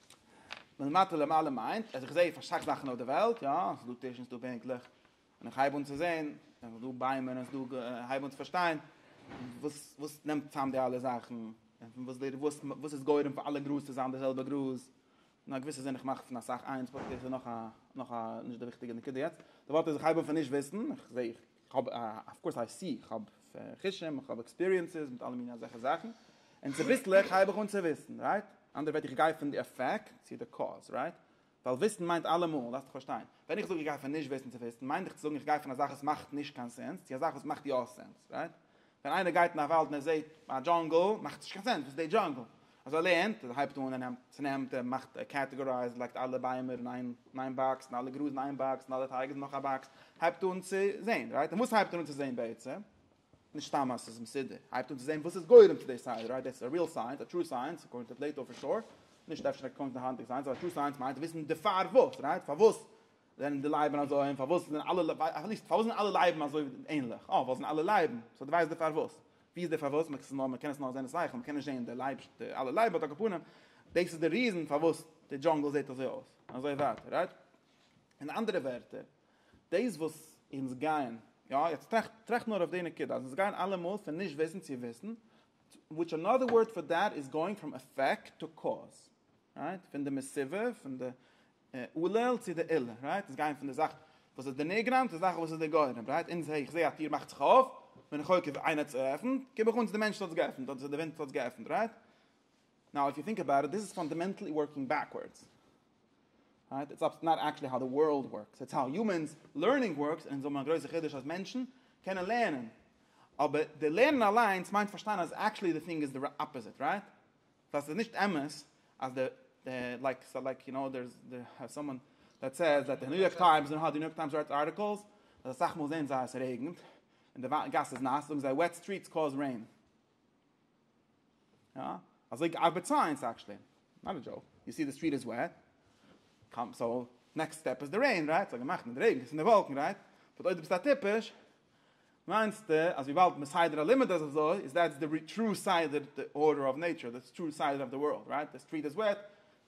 מלמטה למעלה מיינט, אז איך זעה פאר סאך זאכן אויף די וועלט, יא, עס איז דא טישן, עס איז דא בענקלעך, און איך הייב אן צו זען, עס איז דא ביימער, עס איז דא, איך הייב אן צו פארשטיין, וואס, וואס נעמט צוזאם די אלע זאכן, און וואס די, וואס, וואס איז גורם פאר אלע גראז צו זיין די זעלבע גראז, אין א געוויסע זין איך מאך פון אסאך איינס, באט דאס איז נאך א, נאך א, נישט די וויכטיגע נקודה יעצט, די ווארט איז איך הייב אן פון נישט וויסן, איך זעה, איך. כ'האב אף קאורס איי סי, כ'האב חושים, כ'האב עקספיריענסעס מיט אלע מיני אזעלכע זאכן, און צוביסלעך הייב איך אן צו וויסן, רייט? אנדערע ווערטער איך גיי פון די עפעקט צו די קאוז, רייט? ווייל וויסן מיינט אלעמאל, דארפסטו פארשטיין, ווען איך זאג איך גיי פון נישט וויסן צו וויסן, מיין איך צו זאגן איך גיי פון א זאך וואס מאכט נישט קיין סענס צו א זאך וואס מאכט יא סענס, רייט? ווען איינער גייט אין א וואלד און ער זעט א דזשאנגל מאכט נישט קיין סענס וואס איז די דזשאנגל אז ער לערנט ער הייבט אן ער נעמט צונעמט ער מאכט ער קעטעגארייזד לייגט אלע ביימער אין איין אין איין באקס און אלע גראז אין איין באקס און אלע טייג איז נאך א באקס הייבט אן צו זעהן רייט און וואס הייבט ער אן צו זעהן בעצם נישט סתם אז עס איז מסודר הייבט אן צו זעהן וואס איז גורם צו די סדר רייט דעס איז א ריעל סייענס א טרו סייענס אקארדינג טו פלעיטאו פאר שור נישט אפשר אקארדינג טו היינטיגע סייענס אבער טרו סייענס מיינט וויסן די פארוואס רייט פארוואס זענען די לייבן אזוי? און פארוואס זענען אלע לייבן, אויף ליסט, פארוואס זענען אלע לייבן אזוי ענליך? אה, ווייל זענען אלע לייבן. סאו דו ווייסט די פארוואס. ווי איז די פארוואס? מען קען מען קען עס נאר זען אין שכל, מען קען נישט זען די לייב, די אלע לייבן, באט על כל פנים, דאס איז די ריזען פארוואס די דזשאנגל זעט אזוי אויס. און אזוי ווייטער, רייט? אין אנדערע ווערטער, דאס וואס אונז גייען, יא, יעצט טראכט, טראכט נאר אויף די נקודה, אז אונז גייען אלעמאל פון נישט וויסן צו וויסן, וויטש אנאדער ווארד פאר דעט איז גאוינג פראם עפעקט טו קאוז. רייט? פון די מסיבה, פון די אלל צו די עילה, רייט? אונז גייען פון די זאך וואס איז די נגרם צו די זאך וואס איז די גורם, רייט? אונז זעה, איך זעה א טיר מאכט זיך אויף, בין איך חוקר איינער האט עס געעפנט? גיב איך אן צו די מענטש האט עס געעפנט אדער צו די ווינט האט עס געעפנט, רייט? נאו איף יו טינק אבאוט איט דיס איז פאנדאמענטלי ווארקינג בעקווארדס, רייט? איטס אבסט נאט עקטשעלי האו די ווארלד ווארקס, איטס האו יומענס לערנינג ווארקס, און אונז האבן א גרויסע חידוש אז מענטשן קענען לערנען, אבער די לערנען אליינס מיינט פארשטיין אז עקטשעלי די טינג איז די אפאזיט, רייט? ווייל ס'איז נישט אמת אז די די לייק סא לייק יו נאו דערס דער האס סאמאן דעט סעיז דעט די ניו יארק טיימס נאר האט די ניו יארק טיימס ראייט ארטיקלס אז אסאך מאל זעהן זיי אז ס'רעגנט און די גאס איז נאס זאגן זיי וועט סטריטס קאוז רעין יא אזוי ארבעט סייענס עקשלי נאט א דזשאוק יו סי די סטריט איז וועט קאם סא נעקסט סטעפ איז די רעין רייט סא געמאכט מיט רעגן ס'איז אין די וואלקן רייט באט אויב די ביסט א טיפש מיינסטע אז וויבאלד מסדר הלימוד איז אזוי איז דעטס די טרו סדר די ארדער אוו נעיטשער די טרו סדר אוו די ווארלד רייט די סטריט איז וועט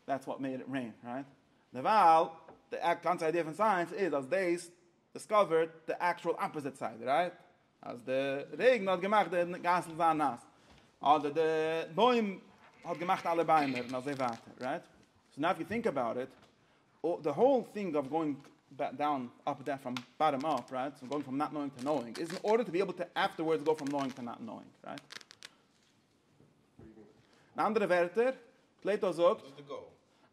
דעטס וואט מעיד איט רעין רייט דערווייל די גאנצע איידיע פון סייענס איז אז דעיס דיסקאווערט די עקטשועל אפאזיט סייד רייט אז די רעגן האט געמאכט די גאסן זיין נאס אדער די בוים האט געמאכט אלע ביימער און אזוי ווייטער רייט סאו נאו ווי טינק אבאוט איט און די האול טינג אוו גאוינג דאון אפ דאון פראם באטאם אפ רייט פון גאוינג פראם נאט נאוינג טו נאוינג איז אין ארדער טו בי עיבל טו עפטערווארדס גאו פראם נאוינג טו נאט נאוינג רייט אין אנדערע ווערטער פלעיטא זאגט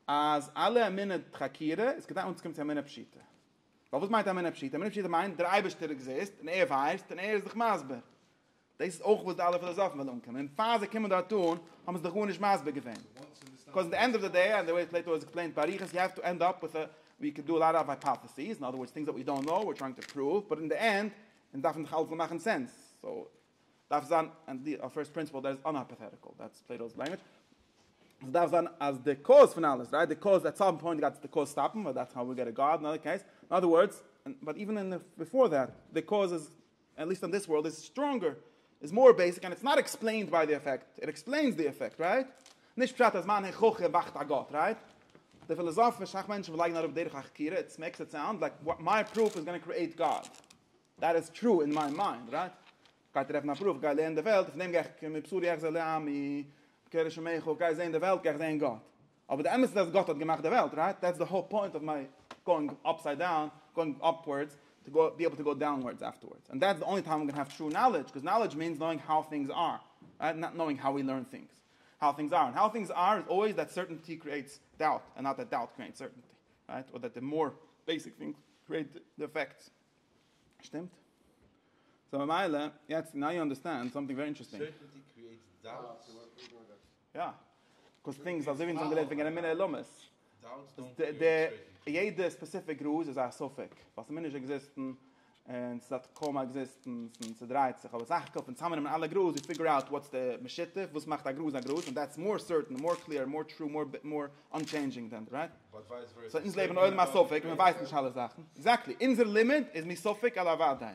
אז אלע אמונה דחקירא איז כדי אנצוקומען צו אמונה פשוטה ווייל וואס מיינט אמונה פשוטה אמונה פשוטה מיינט דער אייבערשטער עקזיסט און ער ווייסט און ער איז דיך מסביר דאס איז אויך וואס די אלע פילאזאפן ווילן אנקומען, און פאר זיי קומען דארט אן האבן זיי זיך גארנישט מסביר געווען, קאוז אין די ענד אוו די דעי, ענד די וועי פלעיטא איז עקספלעינט באריכות, יו העוו טו ענד אפ וויט א, ווי קען דא א לאט אוו הייפאטעסיס, אין אדער ווארדס טינגס דעט ווי דאנט נאו, ווי טרייאינג טו פראוו, באט אין די ענד, אונז דארפן דאך אלעס זאל מאכן סענס, סאו דארף זיין אז די אויף פירסט פרינסיפעל דער איז אן הייפאטעטיקעל, דעטס פלעיטא'ס לענגווידזש, עס דארף זיין אז די קאוז פון אלעס, רייט, די קאוז, עט סאם פוינט גייט די קאוז סטאפן, ווייל דעטס האו ווי געט א גאד, אין אנאדער קעיס, אין אדער ווארדס, באט איווען אין די, ביפאר דעט, די קאוז איז עט ליסט אן דיס ווארלד איז סטראנגער, איז מאר בעיסיק, ענד איטס נאט עקספלעינד ביי די עפעקט, איט עקספלעינס די עפעקט, רייט? נישט פשט אז מיין הוכחה וואכט א גאט, רייט? די פיליזאפישע שאך מענטשן וואס לייגן אראפ דרך החקירה, איטס מעיקס איט סאונד לייק מיי פרוף איז גאנא קריעיט גאד, דעט איז טרו אין מיי מיינד, רייט? גיי טרעפן א פרוף, גיי לערן די וועלט, פון דעם גיי איך מבשרי אחזה לעמי, קרא שמך, גיי זעהן די וועלט, גיי איך זעהן גאט. אבער די אמת איז אז גאט האט געמאכט די וועלט, רייט? דעטס די האול פוינט אוו מיי גאוינג אפסייד דאון, גאוינג אפווארדס, טו גאו בי עיבל טו גאו דאונווארדס אפטערווארדס, אנד דעטס די אנלי טיים איים גאנא העוו טרו נאלעדזש, קאז נאלעדזש מיענס נאוינג האו טינגס אר, רייט? נאט נאוינג האו ווי לערן טינגס, האו טינגס אר, און האו טינגס אר איז אלוועיס דעט סערטענטי קריעטס דאוט, אנד נאט דעט דאוט קריעטס סערטענטי, רייט? אדער דעט די מאר בעיסיק טינגס קריעט די פעקטס, שטימט? סאו ממילא, יעצט נאו יו אנדערסטענד סאמטינג ווערי אינטערעסטינג. סערטענטי קריעטס דאוט? יא, קאוז טינגס אזוי ווי אונז האבן גערעדט וועגן אמונה אילומות, יעדע ספעסיפיק גראז איז א ספק, ווייל ס'מוז נישט עקזיסטן, און ס'האט קוים א עקזיסטענס, און ס'דרייט זיך, אבער סך הכל פון צוזאמנעמען אלע גראז יו פיגור אוט וואטס די משותף, וואס מאכט א גראז א גראז, און דעטס מאר סערטען, מאר קלעיר, מאר טרו, מאר אנטשעינדזשינג דען די רעסט. סאו אונז לעבן אין עולם הספק, און מ'ווייסט נישט אלע זאכן. עקזעקטלי, אונזער לימוד איז מספק אל אוודאי.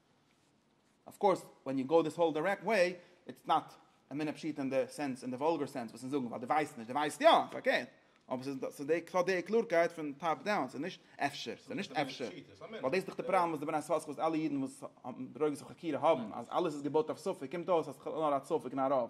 אויף קאורס ווען יו גאו דיס האול דירעקט וועי איטס נאט א מינע פשיטא אין די סענס אין די וואלגער סענס וואס אונז זאגן ווייל דו ווייסט נישט דו ווייסט יא פארקערט אבער ס'איז ס'איז די ס'האט די קלארקייט פון טאפ דאון ס'איז נישט אפשר ס'איז נישט אפשר ווייל דאס איז דאך די פראבלעם וואס די בני סאסקע וואס אלע אידן וואס האבן דרוגות אויף חקירה האבן אז אלעס איז געבויט אויף ספק קומט אויס אז ס'איז בכלל נאר א ספק און א רוב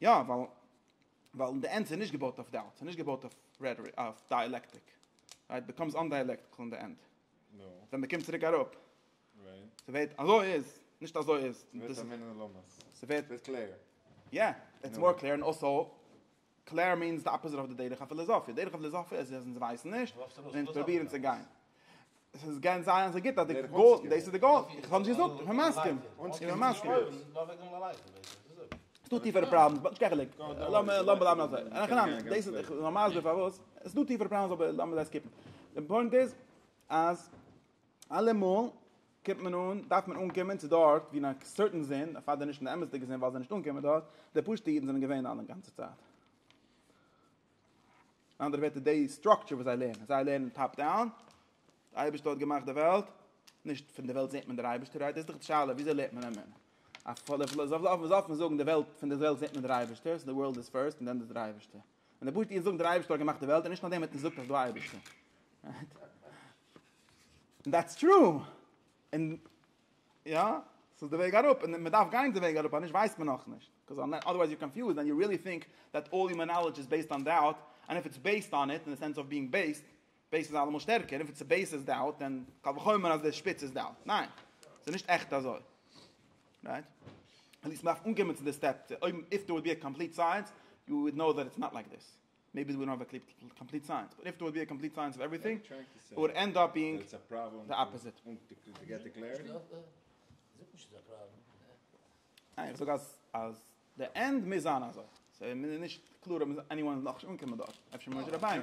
יא, ווייל ווייל די ענדס איז נישט געבויט אויף דאוט, ס'איז נישט געבויט אויף רעטאריק, אויף דיאלעקטיק, איט ביקאמס אנדיאלעקטיקל אין די ענד, ווען מ'קומט צוריק אראפ, ס'ווערט אזוי איז, נישט אזוי איז, ס'ווערט א מנין לעומס, ס'ווערט קלער, יא, איטס מאר קלער, און אלסא קלער מיענס די אפאזיט אוו די דרך הפיליזאפיע, דרך הפיליזאפיע איז אז אונז ווייסן נישט, און אונז פרובירן צו גיין. עס איז גייען זיין אזוי גוט אז די גאול, דאס איז די גאול, איך האב נישט געזאגט, איך בין מסכים, איך בין מסכים. עס איז דא טיפערע פראבלעמס, באט נישט קיין חילוק, לאמיר בלייבן אזוי, אין הכי נמי, דאס איז, איך בין מסביר פארוואס, עס איז דא טיפערע פראבלעמס אבער לאמיר זיי סקיפן, די פוינט איז אז אלעמאל קומט מען אן, דארף מען אנקומען צו דארט ווי אין א סערטען זין, אפילו די נישט אין די אמת'דיגע זין ווייל זיי זענען נישט אנגעקומען דארט, די פשוט'ע אידן זענען געווען אלע גאנצע צייט. אין אנדערע ווערטער די סטראקטשער וואס זיי לערנען, זיי לערנען טאפ דאון, דער אייבערשטער האט געמאכט די וועלט, נישט פון די וועלט זעט מען דער אייבערשטער, איי דאס איז דאך די שאלה, וויאזוי לערנט מען אמונה? א פולע פילאזאף אויף וואס דארף מען זאגן די וועלט, פון די וועלט זעט מען דער אייבערשטער, סאו די ווארלד איז פירסט און דען דער אייבערשטער. און די פשוטע אידן זאגן דער אייבערשטער האט געמאכט די וועלט און נישט נאכדעם האט מען געזאגט אז דא אייבערשטער. און דעטס טרו. און יא? ס'איז די וועג אראפ, און מ'דארף גיין די וועג אראפ, אנישט ווייסט מען נאכנישט. קאוז אדערווייז יור קאנפיוזד ענד יו ריעלי טינק דעט אלל יומען נאלעדזש איז בעיסד אן דאוט, ענד איף איטס בעיסד אן איט, אין די סענס אוו ביאינג בעיסד, בעיסד איז אלעמאל שטערקער, און איף איטס בעיסד איז דאוט, דען קל וחומר אז די שפיץ איז דאוט. ניין. ס'איז נישט עכט אזוי. רייט? עטליעסט מ'דארף אנקומען צו די סטעפ, אויב איף דער וואלט בי א קאמפליט סייענס, יו וואלד נאו דעט איטס נאט לייק דיס. מעיבי ווי דאנט האוו א קאמפליט סייענס באט איף דער וואלט בי א קאמפליט סייענס אוו עווריטינג איט וואלט ענד אפ בינג די אפאזיט. ניין איך זאג אז אז די ענד מוז זיין אזוי סאיז מיר נישט קלאר אויב עני וואן איז נאכנישט אנגעקומען דארט אפשר משה רבינו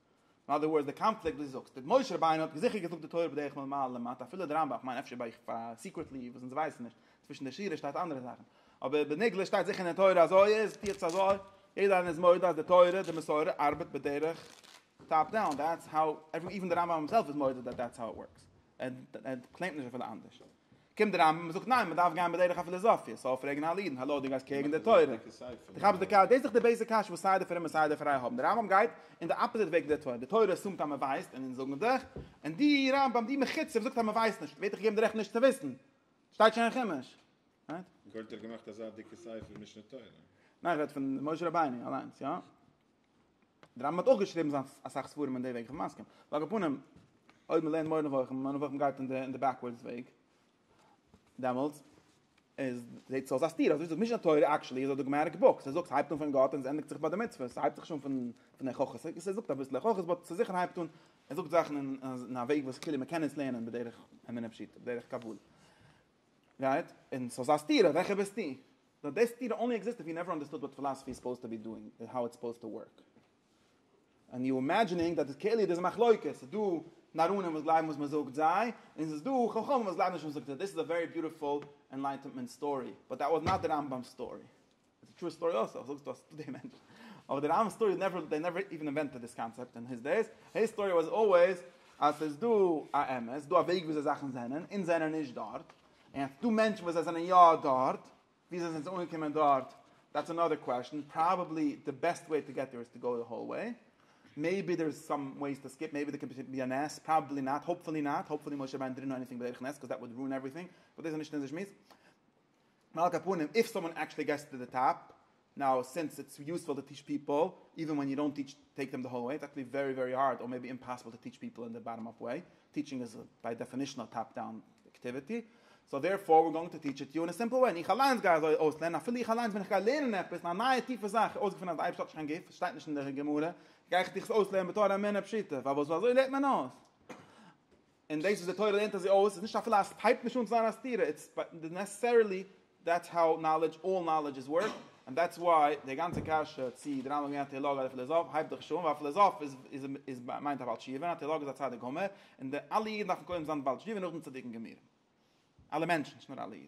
אין אדער ווארדס די קאנפליקט וואס דו זאגסט די משה רבינו האט זיכער געזאגט די תורה בדרך מלמעלה למטה אפילו די רמב ם איך מיין אפשר ביי סיקרעטלי וואס אונז ווייסן נישט צווישן די שורות שטייט אנדערע זאכן אבער בנגלה שטייט זיכער אין תורה אזוי איז טיעטס אזוי יעדער איינער איז מודה אז די תורה די מסורה ארבעט בדרך טאפ דאון דעטס האו עווען די רמב ם הימסעלף איז מודה דעט דעטס האו איט ווארקס ער קלעימט נישט אפילו אנדערש. קומט די רמב ם און זאגט ניין מען דארף גיין בדרך הפילאזאפיע, סאו פרעגן אלע אידן האלא דו גייסט קעגן די תורה, דו כאפסט די קש, דאס איז דאך די בעיסיק קשיא וואס סיי די פרומע סיי די פרייע האבן, די רמב ם גייט אין די אפאזיט וועג ווי די תורה, די תורה אסומט אז מען ווייסט און אונז זאגן דיך, און די רמב ם די מחוצף זאגט אז מען ווייסט נישט, ווערט דיך געגעבן די רעכט נישט צו וויסן, שטייט שוין אין חומש. רייט? גורט האט געמאכט אזא דיקע ספר משנה תורה. ניין איך רעד פון משה רבינו אליינס, יא. די רמב ם האט אויך געשריבן אסאך ספרים אין די וועג, כ'בין מסכים. ועל כל פנים, אויב מ'לערנט מורה נבוכים, מורה נבוכים גייט אין די בעקווארדס וועג, דעמאלטס איז זעהט עס אויס א סתירה, אזוי ווי זאגט משנה תורה עקשעלי איז א דאגמעטיק בוק, ס'זאגט ס'הייבט אן פון גאט און ס'ענדיגט זיך ביי די מצוות, ס'הייבט זיך נישט אן פון פון הוכחה, ס'זאגט אביסל הוכחות באט ס'זיכער הייבט אן, ער זאגט זאכן אין א וועג וואס כאילו מ'קען עס לערנען בדרך אמונה פשוטה, בדרך קבלה. רייט? און סאיז א סתירה וועלכע ביסטו? דאט די סתירה אנלי עקזיסט איף יו נעווער אנדערסטוד וואט פילאסעפי איז סופאוזד טו בי דואינג און האו איטס סופאוזד טו ווארק און יו אימעדזשינינג דאט איז כאילו דאס מחלוקת סאיז דא נאראנים וואס גלייבן וואס מזאגט זיי און סאיז דא חכמים וואס גלייבן נישט וואס מזאגט זיי דאס איז א ווערי ביוטיפול ענלייטענמענט סטארי באט דאט וואס נאט די רמב ם'ס סטארי. איז א טרו סטארי אלסא, זאגסט אז די מענטשן, אבער די רמב ם'ס סטארי נעווער, זיי נעווער איווען אינווענטעד דיס קאנצעפט און היס דעיס, היס סטארי וואס אלוועיס אז ס'איז דא א אמת, ס'איז דא א וועג וויאזוי זאכן זענען, אונז זענען נישט דארט, און אז ס'איז דא מענטשן וואס זיי זענען יא דארט, ווי זיי זענען אנגעקומען דארט, דעטס אנאדער קוועשן, פראבעבלי די בעסט וועי טו געט דעיר איז טו גאו די האול וועי, מעיבי דער איז סאם וועיס טו סקיפ, מעיבי דער קען פשוט בי א נס, פראבעבלי נאט, האופפולי נאט, האופפולי משה רבינו דידנט דו עניטינג בדרך נס, קאז דעט וואלט רואין עווריטינג, באט דאס איז נישט אונזער שמועס. ועל כּל פּנים, איף סאָמאָן עקשעלי געסט טו דע טאָפּ, נאַו, סינס איטס יוספול טו טיטש פּיפּל, איווען ווען יו דאָנט טיטש טעיק דעם דע האָל וועי, איטס עקשעלי ווערי ווערי האַרד, אָר מעיבי אימפּאַסיבל טו טיטש פּיפּל אין דע באַטאָם-אָפּ וועי, טיטשינג איז ביי דעפינישאָן אַ טאָפּ דאַון עקטיוויטי, סאָו דערפאָר וויר גאָינג טו טיטש איט יו אין אַ סימפּל וועי, און איך אַליינס גיי אַזוי אויסלערנען, אַפילו איך אַליינס ווען איך גיי לערנען עפּעס אַ נייע טיפע זאַך, איך אויסגעפונען אַז דער אייבערשטער האָט נישט קיין גוף, עס שטייט נישט אין דער גמרא, גיי איך דיך עס אויסלערנען בתור אמונה פּשוטה, ווייל וואָס אַזוי לערנט מען אויס? און דאס וואס די תורה לערנט אזוי אויס איז נישט אפילו א ס הייבט נישט אן צו זיין א סתירה, איטס נעסעסערילי דעטס האו נאלעדזש אלל נאלעדזש איז ווארק, און דעטס וואי די גאנצע קשיא צי די רמב ם איז א טעאלאג אדער פיליזאף הייבט דאך נישט אן, ווייל א פיליזאף איז מיינט א בעל תשובה און א טעאלאג איז א צדיק גמור, און די אלע אידן דארפן קודם זיין בעל תשובה און נאכדעם צדיקים גמורים. אלע מענטשן, נישט נאר אלע אידן.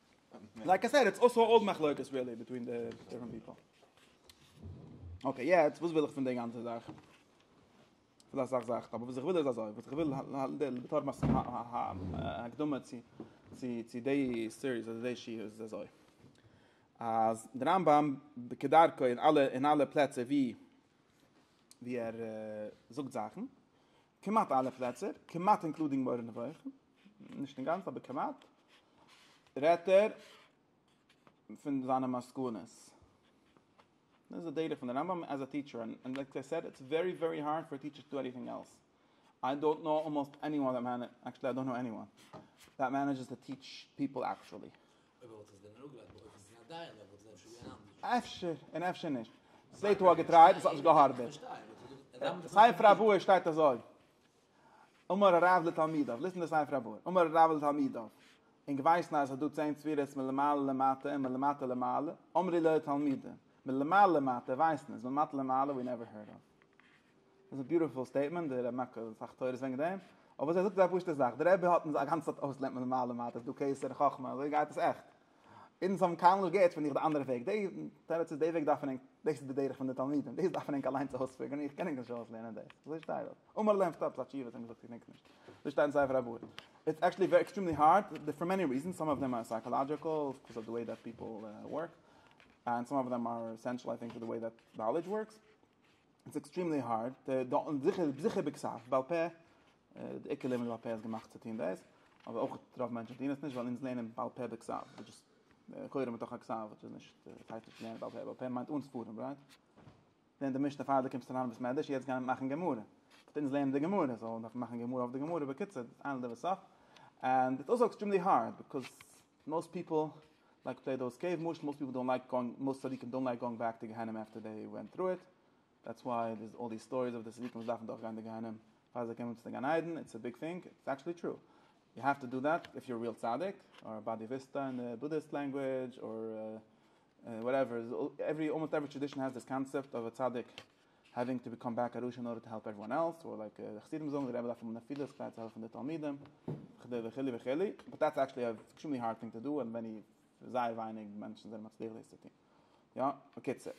לייק איי סעד איטס אלסא אן אולד מחלוקת ריעלי ביטווין די דיפרענט פיפל. אקעי יעצט וואס וויל איך פון די גאנצע זאך? פון א סאך זאכן אבער וואס איך וויל איז אזוי וואס איך וויל בתור הקדמה צו צו די סיריס אדער די שיעור איז אזוי אז דער רמבם כדרכו אין אלע אין אלע פלעצער ווי ווי ער זאגט זאכן כמעט אלע פלעצער, כמעט אינקלודינג מורה נבוכים, נישט אינגאנצן אבער כמעט, רעדט ער פון זיינע מסקנות. דאס איז די דעטע פון די רמב ם עז א טיטשער, און לייק איי סעד, איטס ווערי ווערי הארד פאר א טיטשער טו עניטינג עלס. איי דאנט נאו אלמאסט עניוואן, עקטשעלי איי דאנט נאו עניוואן, דעט מענעדזשעס טו טיטש פיפל עקטשעלי. אויב ער וואלט עס ווען אראפגעלייגט באופן ס'איז א דיין ווען וואלט עס אפשר געווען אנדערש. אפשר און אפשר נישט. ס'זעט אויס געטרייט און ס'האט נישט געהארבעט. ספר הבאר שטייט אזוי. אמר הרב לתלמידיו, ליסן די ספר הבאר. אמר הרב לתלמידיו. ענק ווייסן אז עס איז דא צען ספירות מלמעלה למטה און מלמטה למעלה. אמרי לו תלמידי. מלמעלה למטה ווייסן אונז, מלמטה למעלה ווי נעווער הערד אף. דאס איז א ביוטיפול סטעיטמענט, די רמק האט אסאך תורות וועגן דעם, אבער ער זאגט אזא פשוטע זאך, די רבי האט אונז א גאנצע צייט אויס לערנט מען מעלה מטה, ס'איז דא קיסר חכמה, אזוי גייט עס עכט, אונז האבן קיינמאל נישט געהערט פון דיך די אנדערע וועג, די תירוץ איז די וועג דארפן ענק, דאס איז די דרך פון די תלמידים, דאס דארפן ענק אליינס אויספיגערן, איך קען ענק נישט אויס לערנען דאס, אזוי שטייט דארט, אמאל האט ער ענפערט עפעס א תשובה, האט אים געזאגט איך דענק נישט, אזוי שטייט אין ספר הבאר, איטס עקטשעלי ווערי עקסטרעמלי הארד, פאר מעני ריזענס, סאם אוו דעם אר סייקאלאדזשיקעל, ביקאוז אוו די וועי דעט פיפעל ווארק, און סאם אוו דעם אר עסענשעל איי טינק פאר די וועי דעט נאלעדזש ווארקס. איטס עקסטרימלי הארד, זיכער זיכער ביקסאף, בעל פה, די עיקר לערנען בעל פה איז געמאכט צו טוהן דעס, אבער אויך רוב מענטשען טוהן עס נישט ווייל אונז לערנען בעל פה ביקסאף, וויטש איז לכאורה מתוך הכסאף, וויטש איז נישט, עס הייסט נישט לערנען בעל פה, בעל פה מיינט אן ספרים רייט? לערן די משנה פאר די קומסט אריין אין בית מדרש, יעצט גיי מאכן גמרא, באט אונז לערנען די גמרא, סאו דארף מען מאכן גמרא אויף די גמרא, בקיצור, ענד אוו סטאף, ענד איטס אלסאו עקסטרימלי הארד, ביקאוז. מאסט פיפל לייק פלעי דאוס געים, למשל מאסט פיפל דאנט לייק גאוינג, מאסט צדיקים דאנט לייק גאוינג בעק טו גיהנום אפטער דעי ווענט טרו איט, דעטס וויי דערס אלל די סטאריס אויף די צדיקים וואס דארפן דורך גיין די גיהנום פאר זיי קענען אונטער צו גן עדן, איטס א ביג טינג, איטס עקטשעלי טרו, יו העוו טו דא דעט איף יור ריעל צדיק, אר באדיוויסטא אין די בודהיסט לענגווידזש, אר וואטעווער, אלמאסט עווערי טרעדישאן העז דיס קאנצעפט אויף א צדיק. העווינג טו ביקאם בעק א רשע אין ארדער טו העלפ עוועריוואן עלס, אדער לייק די חסידים זאגן, די רבי דארף האבן נפילות כדי צו העלפן די תלמידים, וכדו' וכו' וכו', באט דעטס עקשעלי ען עקסטרימלי הארד טינג טו דו, און וועני זייער ווייניג מענטשן זענען מצליח דאס צו טון. יא, בקיצור.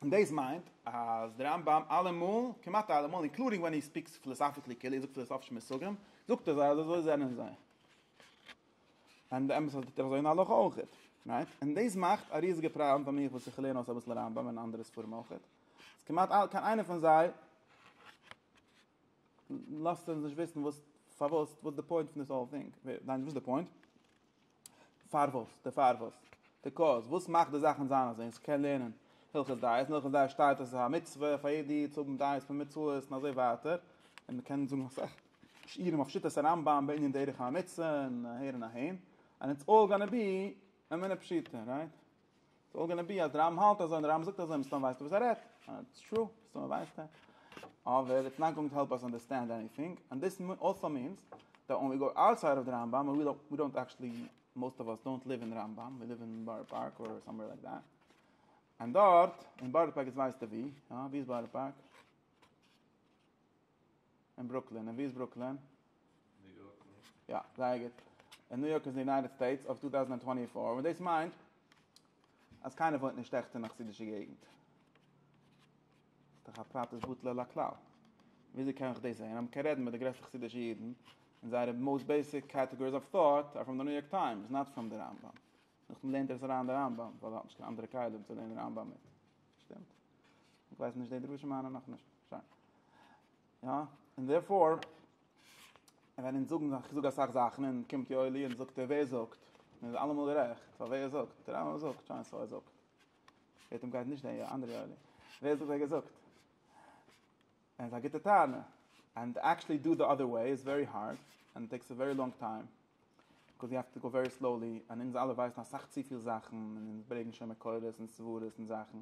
און דאס מיינט אז די רמב ם אלעמאל, כמעט אלעמאל, אינקלודינג ווען הי ספיקס פיליסאפיקלי כאילו ער זאגט פיליסאפישע מושגים, זאגט ער זיי אז אזוי זענען זיי. און די אמת אז טוט ער אזוי אין הלכה אויך, רייט? און דאס מאכט א ריזיגע פראבלעם פאר מיך וואס איך לערן אויס אביסל רמב ם און אנדערע ספרים אויך, אז כמעט אלע קיין איינער פון זיי לאזט אונז נישט וויסן וואס פארוואס וואס די פוינט פון דיס האול טינג, ניין וואס די פוינט? פארוואס, די פארוואס, די קאוז, וואס מאכט די זאכן זיין אזוי אז כ'קען לערנען הלכות דעות, אין הלכות דעות שטייט אז ס'איז א מצוה פאר יעדע איד צו האבן דעות פון מצוות און אזוי ווייטער, און מ'קען זאגן אסאך. שיעורים אויף שיטת הרמב ם בענין דרך העמיצה און אהער און אהין, אנד איטס אלל גאנע בי אמונה פשוטה, רייט? איטס אלל גאנע בי אז דער רמב ם האלט אזוי און דער רמב ם זאגט אזוי, מסתמא ווייסט ער וואס ער רעדט, אנד איטס טרו, מסתמא ווייסט ער, אבער איטס נאט גאוינג טו העלפ אס אנדערסטענד עניטינג, אנד דיס אלסא מינס דעט ווען ווי גאו אוטסייד אוו די רמב ם ווי דאנט עקשעלי, מאוסט אוו אס דאנט ליוו אין רמב ם, ווי ליוו אין בארא פארק אר סאמווער לייק דעט, אנד דארט, אין בארא פארק איז ווייסט ער ווי, יא ווי איז בארא פארק? אין ברוקלין, און ווי איז ברוקלין? ניו יארק נישט? יא, זייער גוט. און ניו יארק איז אין די יונייטעד סטעיטס אוו טו טאוזענד טווענטי פאר, און דאס מיינט אז קיינער וואוינט נישט עכט אין א חסידישע געגנט. ס'דאך א פרט איז בטל על הכלל. וויאזוי קען איך דאס זעהן? אז מ'קען רעדן מיט די גרעסטע חסידישע אידן, און זייערע מאוסט בעיסיק קעטעגאריס אוו טאט אר פראם די ניו יארק טיימס, נאט פראם די רמב ם. נאכדעם לערנט ער עס אריין אין די רמב ם, ווייל ער האט נישט קיין אנדערע כלים צו לערנען רמב ם מיט. שטימט? איך ווייס נישט די דרשה מיינע נאכנישט. שיין. יא, און דערפאר ווען אונז זאגן איך זאג אסאך זאכן און קומט יואלי און זאגט ער ווער זאגט? און איז אלעמאל גערעכט, ווייל ווער זאגט? דער רמב ם זאגט, שיין סאו ער זאגט. לעת עתה גייט נישט דער אנדערע יואלי. ווער זאגט ער האט געזאגט? און עס איז א גוטע טענה. אנד עקשעלי דא די אדער וועי איז ווערי הארד אנד טעיקס א ווערי לאנג טיים. ביקאוז יו העוו טו גאו ווערי סלאולי, און אונז אלע ווייסן אסאך צופיל זאכן, און אונז ברעגן שוין מקורות און סברות און זאכן,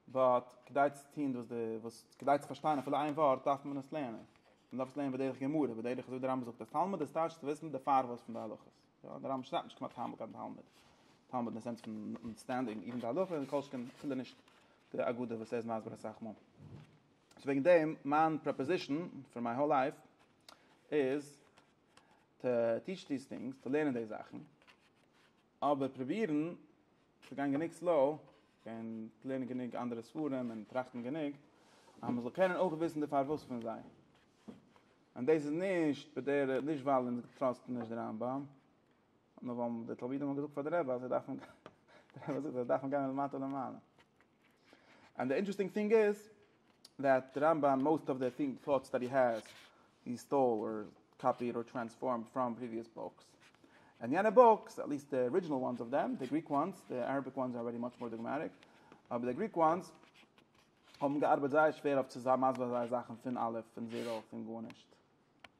באט כדי צו טון וואס די וואס כדי צו פארשטיין אפילו איין ווארט דארף מען עס לערנען, מען דארף עס לערנען בדרך גמרא, בדרך אזוי ווי די רמבם זאגט אז תלמוד איז טייטש צו וויסן די פארוואס פון די הלכות, יא די רמבם שרייבט נישט כמעט קיינמאל קיין תלמוד, תלמוד אין די סענס פון אנדערסטענדינג איבן די הלכה און כל שכן אפילו נישט די אגדה וואס ער איז מסביר אסאך מאל. סאו וועגן דעם מיין פראפאזישן פאר מיי האול לייף איז טו טיטש דיס טינגס, טו לערנען די זאכן, אבער פרובירן צו גיין גענוג סלאו, און לערנען גענוג אנדערע ספרים, און טראכטן גענוג, אז מ'זאל קענען אויך וויסן די פארוואס פון זיי. און דאס איז נישט בדרך, נישט ווייל אונז טראסטן נישט די רמב ם, נאר ווייל די תלמידים האבן געזאגט פאר די רבי אז זיי דארפן, די רבי האט געזאגט אז זיי דארפן גיין מלמטה למעלה. אנד די אינטערעסטינג טינג איז דעט די רמב ם מאוסט אוו די טינג טאטס דעט הי העז הי סטאל אר קאפיעד אר טרענספארמד פראם פריוויעס בוקס און יענע בוקס עט ליעסט די ארידזשינעל וואנס אוו דעם די גריק וואנס די אראביק וואנס אר ערעדי מאטש מאר דאגמעטיק אבער די גריק וואנס האבן געארבעט זייער שווער אויף צו זיין מסביר זיי זאכן פון אלף פון זיראו פון גארנישט.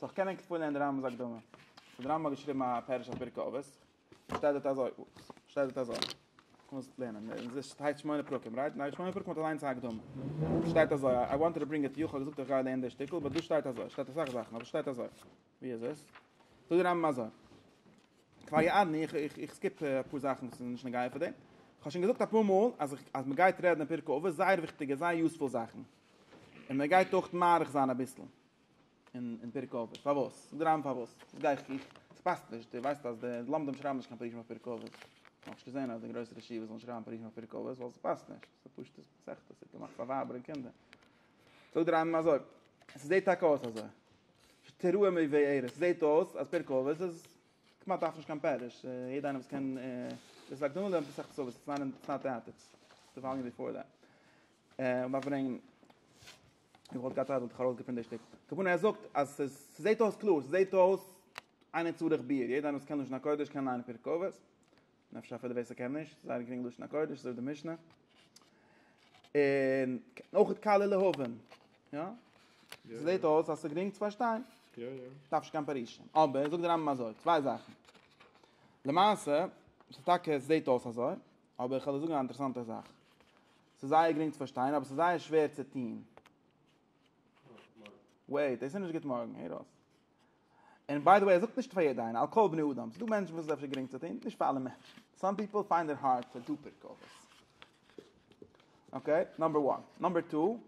זאלסט קענען קפלען די רמבם'ס הקדמה. די רמבם האט געשריבן א פירוש אויף פרקי אבות. שטייט דארט אזוי, שטייט דארט אזוי. קומסט עס לערנען. אין זיס שטייט שמונה פרקים, רייט? ניין, שמונה פרקים האט אליינס א הקדמה. שטייט אזוי, איי וואנטעד טו ברינג איט טו יו, איך האב געזאגט איך גיי לערנען די שטיקל, באט דא שטייט אזוי, שטייט אסאך זאכן, אבער שטייט אזוי. ווי איז עס? זאגט די רמבם אזוי. כבר יעדני, איך איך איך סקיפ אפאר זאכן וואס איז נישט נוגע פאר דעם. איך האב שוין געזאגט אפאר מאל אז איך אז מען גייט רעדן אין פרקי אבות זייער וויכטיגע זייער יוספול זאכן. און מען גייט אויך מאריך זיין אביסל. אין פרק אבות, פארוואס? זאג דער רמב ם פארוואס? וואס גיי איך איך ס'פאסט נישט, דו ווייסט אז די לומדים שרייבן נישט קיין פרקים אויף פרק אבות, איך האב נישט געזען אז די גרויסע רשיבות זאלן שרייבן פרקים אויף פרק אבות, ווייל ס'פאסט נישט, ס'איז א פשוטע מסכת, ס'איז געמאכט פאר ווייבער און קינדער. זאגט דער רמב ם אזוי, ס'זעהט טאקע אויס אזוי, תראה מי ועירה, ס'זעהט אויס אז פרק אבות איז כמעט דארף נישט קיין פירוש, יעדער איינער וואס קען דאס הקדמה לערנט מסכת אבות, ס'איז נאט אוט, ס'איז די וואליום ביפאר דעט, און דארף ברענגן. איך וואלט געהאט צייט וואלט איך ארויסגעפינט די שטיק. הכוונה ער זאגט אז עס זעהט אויס קלאר, עס זעהט אויס איינער צריך ביעור, יעדער איינער וואס קען לשון הקודש קען ליינען פרק אבות, און אפשר אפילו ווער ס'קען נישט, זייער גרינג לשון הקודש, אזוי ווי די משנה, און אויך קל להבין, יא? זעהט אויס אז ס'גרינג צו פארשטיין, דארף נישט קיין פירושים, אבער זאגט דער רמב ם אזוי, צוויי זאכן, למעשה, ס'איז טאקע עס זעהט אויס אזוי, אבער איך וועל דיר זאגן א אינטערעסאנטע זאך. ס'איז זייער גרינג צו פארשטיין אבער ס'איז זייער שווער צו טוהן. וועיט, דאס איז נישט גוט מארגן, הער אויס. און ביי די וועי, ער זאגט נישט פאר יעדע איינער, על כל בני אדם. ס'דא מענטשן וואס איז אפשר גרינג צו טוהן, נישט פאר אלע מענטשן. סאם פיפל פיינד איט הארד טו דו פערקאוועס. אקעי, נאמבער וואן. נאמבער טו.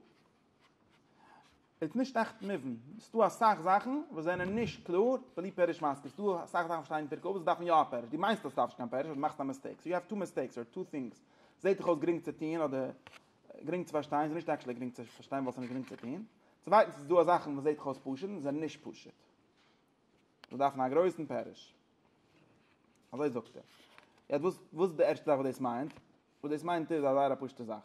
איז נישט עכט מובן, ס'דא אסאך זאכן וואס זענען נישט קלאר, בלי פירוש מסביר, ס'דא אסאך זאכן וואס שטייען אין פרק אבות וואס דארפן יא א פירוש, דו מיינסט אז ס'דארף נישט קיין פירוש, אבער מאכסט א מיסטעיק, סאו יו העוו טו מיסטעיקס אר טו טינגס, זעט דיך אויס גרינג צו טוהן אדער גרינג צו פארשטיין, ס'איז נישט עקשלי גרינג צו פארשטיין ווייל ס'איז נישט גרינג צו טוהן, צווייטנס איז דא זאכן וואס זעט דיך אויס פשוט און זענען נישט פשוט, וואס דארפן א גרויסן פירוש. אזוי זאגט ער. יעצט וואס וואס איז די ערשטע זאך וואס דאס מיינט? וואס דאס מיינט איז א זייער א פשוטע זאך.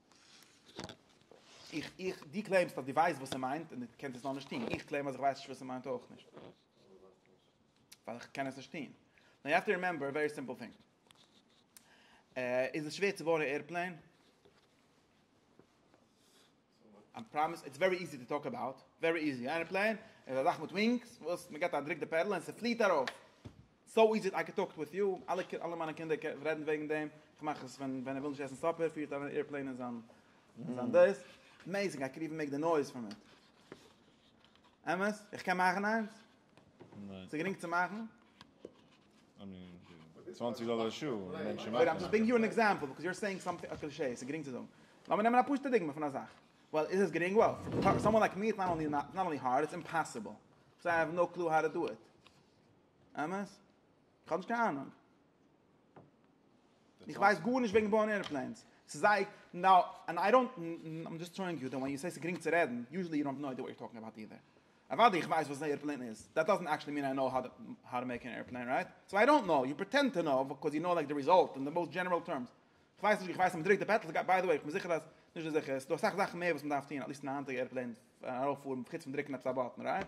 איך איך די קלעימסט אז די ווייסט וואס ער מיינט און די קענסט עס נאר נישט טוהן איך קלעים אז איך ווייס נישט וואס ער מיינט אויך נישט ווייל איך קען עס נישט טוהן נאו יו האוו טו רימעמבער א ווערי סימפעל טינג איז עס שווער צו בויען א עירפלעין? I'm promise it's very easy to talk about very easy airplane is a zach with wings was me get a drink the pedal and se fleet arof סאו איז איט, איי קען טאלק וויט יו, אלע מיינע קינדער רעדן וועגן דעם, איך מאך עס ווען ער וויל נישט עסן סאפער, פירט אריין א עירפלעין אין זיין דאס, עמעיזינג איי קען איווען מעיק די נויז פון איט. אמת? איך קען מאכן איינס? ניין. ס'איז גרינג צו מאכן? איי מין, צוואנציג דאלער א שעה, מענטשן מאכן. איים זשאסט גיווינג יו אן עקזעמפל, ביקאוז יו אר סעיאינג סאמטינג א קלישעי, ס'איז גרינג צו זאגן. לאמיר נעמען א פשוטע דוגמא פון א זאך. וועל, איז עס גרינג? וועל, פאר סאמאן לייק מי איטס נאט אנלי הארד, איטס אימפאסיבל. סאו איי העוו נאו קלו האו טו דו איט. אמת? כ'האב נישט קיין אהנונג. איך ווייס גארנישט וועגן בויען ערעפלעינס. ס'איז זייער, נאו, ענד איי דאנט, איים דזשאסט טראואינג יו דאט ווען יו סעי ס'איז גרינג צו רעדן, יוזשעלי יו דאנט נאו איידיע וואט יור טאלקינג אבאוט אידער. אוודאי איך ווייס וואס אן ערעפלעין איז, דעט דאזענט עקשעלי מין איי נאו האו טו מעיק אן ערעפלעין, רייט? סאו איי דאנט נאו, יו פריטענד טו נאו בייקאז יו נאו לייק די ריזאלט אין די מאוסט דזשענעראל טערמס. כ'ווייס נישט, כ'ווייס אז מ'דרוקט די פעדל, ביי די וועי, כ'בין זיכער אז, נישט זיכער, ס'דא אסאך זאכן מער וואס מ'דארף טון, עטליסט אין א היינטיגע ערעפלעין פארן ארויפפארן חוץ פון דרוקן עפעס א באטן, רייט?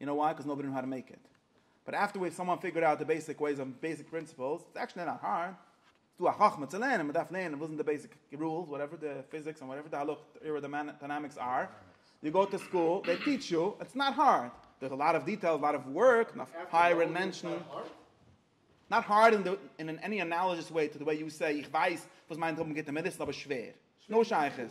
יו נאו וויי? קאוז נאובאדי נאו האו טו מעיק איט. באט אפטערווארדס סאמאן פיגערד אוט די בעיסיק וועיס און בעיסיק פרינסיפעלס. איטס עקטשעלי נאט הארד. ס'איז דא א חכמה צו לערנען. מ'דארף לערנען וואס זענען די בעיסיק רולס, וואטעווער די פיזיקס און וואטעווער די העלעקטעראדינאמיקס אר. יו גאו טו סקול, זיי טיטש יו. איטס נאט הארד. דאס איז א לאט אוו דיטעילס, א לאט אוו ווארק, און אויף הייערן מענטשן. נאט הארד אין אין עני אנאליזש וועי טו די וועי יו סעי. איך ווייס וואס מיינט האבן גוטע מידות, ס'איז אבער שווער. נאו שייכות.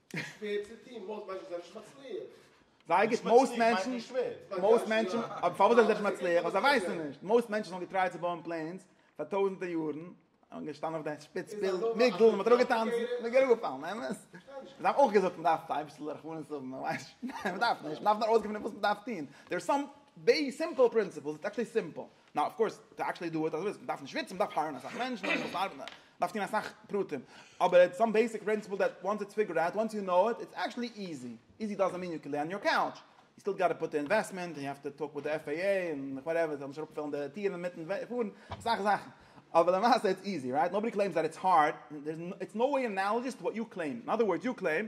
שווער צו טון, מאוסט מענטשן זענען נישט מצליח. זיי געס מאוסט מענטשן, מאוסט מענטשן, אבער פארוואס זענען זיי נישט מצליח? ווייל זיי ווייסן נישט. מאוסט מענטשן האבן געטרייט צו בויען פלענס פאר טויזנטער יארן, און געשטאנען אויף די שפיץ פירמידל, מ'האט ארויף געטאנצן, און מ'איז אראפגעפאלן, אמת? זיי האבן אויך געזאגט מ'דארף טיי אביסל רחמנות האבן, מ'ווייסט נישט, מ'דארף נישט, מ'דארף נאר אויסגעפינען וואס מ'דארף טון. דער סאם בעיס סימפל פרינציפעלס, איטס עקטשעלי סימפל. נאו אף קאורס טו עקשעלי דו איט, אזויווי מ'דארף נישט וויצן, מ'דארף הייערן אסאך מענטשן, און מ'מוז ארבעטן, מ'דארף טון אסאך פרטים, אבער איטס סאם בעיסיק פרינסיפעל דעט וואנס איטס פיגערד אוט, וואנס יו נאו איט, איטס עקשעלי איזי, איזי דאזענט מין יו קען ליי אן יור קאוטש, יו סטיל גאטע פוט די אינוועסטמענט, יו העוו טו טאלק וויט די עף עי עי, און וואטעווער, זיי זאלן נישט אראפפעלן די טירן אינמיטן פארן, אסאך זאכן, אבער למעשה איטס איזי, רייט? נאובאדי קלעימס דעט איטס הארד, איטס נאו וועי אנאלאגעס טו וואט יו קלעימד, אין אדער ווארדס יו קלעימד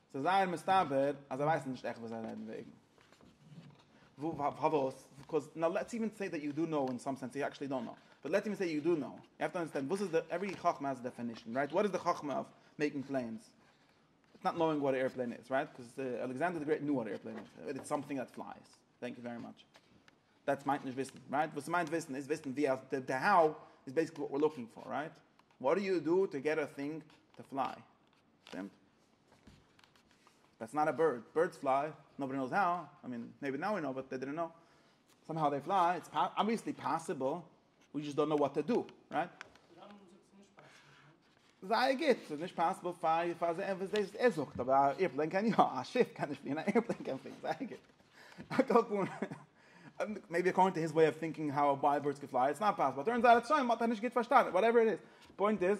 ס'איז זייער מסתבר אז זיי ווייסן נישט עכט וואס זיי רעדן וועגן. פארוואס? ביקאוז נאו לעטס איווען סעי דעט יו דו נאו אין סאם סענס יו עקשעלי דאנט נאו. באט לעטס איווען סעי יו דו נאו. יו העוו טו אנדערסטענד וואס איז די עווערי חכמה האזט א דעפענישן רייט? וואט איז די חכמה אויף מעיקינג פלענס? איטס נאט נאוינג וואט א עירפלעין איז רייט? ביקאוז אלעקסענדער די גרעיט ניו וואט א עירפלעין איז. איטס סאמטינג דעט פלייס. טענק יו ווערי מאטש. דעטס מיינט נישט וויסן רייט? וואס ס'מיינט וויסן איז וויסן ווי אז די די האו איז בעיסיקלי וואט וויר לוקינג פאר רייט? וואט דו יו דו טו געט א טינג טו פליי. שטימט? דעטס נאט א בירד, בירדס פליי, נאבאדי נאוס האו, איי מין, מעיבי נאו ווי נאו, באט דעי דידנט נאו, סאם האו דעי פליי, איטס אבוויעסלי פאסיבל, ווי דזשאסט דאנט נאו וואט טו דו, רייט? זייער גוט, ס'איז נישט פאסיבל פאר פאר זיי עפעס דאס וואס ער זאגט, אבער א עירפלעין קען יא, א שיף קען נישט פליען, א עירפלעין קען פליען, זייער גוט. א קארפאן, מעיבי אקארדינג טו היז וועי אוו טינקינג האו וויי בירדס קען פליי, איטס נאט פאסיבל, טורנס אוט אז שוין, מען האט עס נישט גוט פארשטאנען, וואטעווער איט איז, פוינט איז,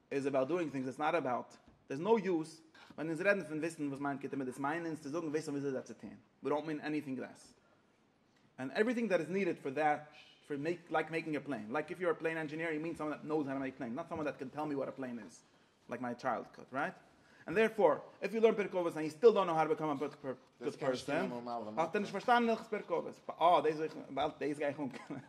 איז אבאוט דואינג טינגס, איטס נאט אבאוט, דער איז נאו יוז, ווען אונז רעדן פון וויסן וואס מיינט גוטע מידות מיינען אונז צו זאגן וויסן וויאזוי זיי צו טון, ווי דאונט מין עניטינג לעס, ענד עווריטינג דעט איז נידעד פאר דעט, פאר מעיק לייק מעיקינג א פלעין, לייק איף יו אר א פלעין ענדזשיניר יו מין סאמאן דעט נאוס האו טו מעיק פלעינס, נאט סאמאן דעט קען טעל מי וואט א פלעין איז, לייק מיי טשיילדקהוד, רייט? ענד דערפאר, איף יו לערן פרק אבות ענד יו סטיל דאונט נאו האו טו באקאם א גוד פערסאן, האסטו נישט פארשטאנען הלכות פרק אבות, אה דאס וויל איך, דאס גיי איך אנקומען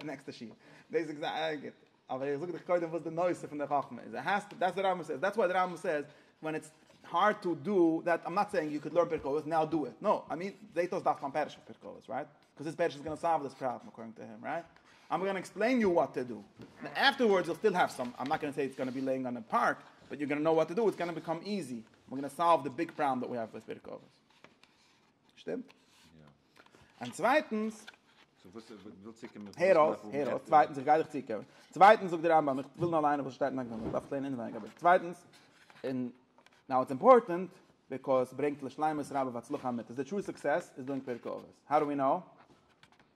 נעקסטע שיעור, דאס איז גוט. אבער איך זאג דיך קודם וואס די נושא פון די חכמה איז, האסט, דעטס וואט רמב ם סעיס, דעטס וואט רמב ם סעיס, ווען איטס הארד טו דא דעט, איים נאט סעיאינג יו קען לערן פרקי אבות, נאו דו איט, נאו, איי מין, זעהט אויס דארפסט ליין פרק אויף פרקי אבות, רייט? קאוז דיס פרק איז גאנא סאלוו דיס פראבלעם אקארדינג טו הים, רייט? איים גאנא עקספלעין יו וואט טו דו, און אפטערווארדס יו וויל סטיל העוו סאם, איים נאט גאנא סעי איטס גאנא בי לעיאינג אן א פארק, באט יו גאנא נאו וואט טו דו, איטס גאנא ביקאם איזי, איים גאנא סאלוו די ביג פראבלעם דעט ווי העוו וויט פרקי אבות. שטימט? יא. און צווייטנס, סאו וואס וויל צוקומען מיט הער אויס, הער אויס, צווייטנס איך גיי דיך צוקומען, צווייטנס זאגט דער רמב ם, איך וויל נאר ליינען וואס שטייט אין הקדמה, איך דארף עס לערנען אינעווייניג אבער צווייטנס, און נאו איטס אימפארטענט, ביקאויס ס'ברענגט לשלימות רבה והצלחה אמיתית, די טרו סוקסעס איז דא אין פרקי אבות, האו דו ווי נאו?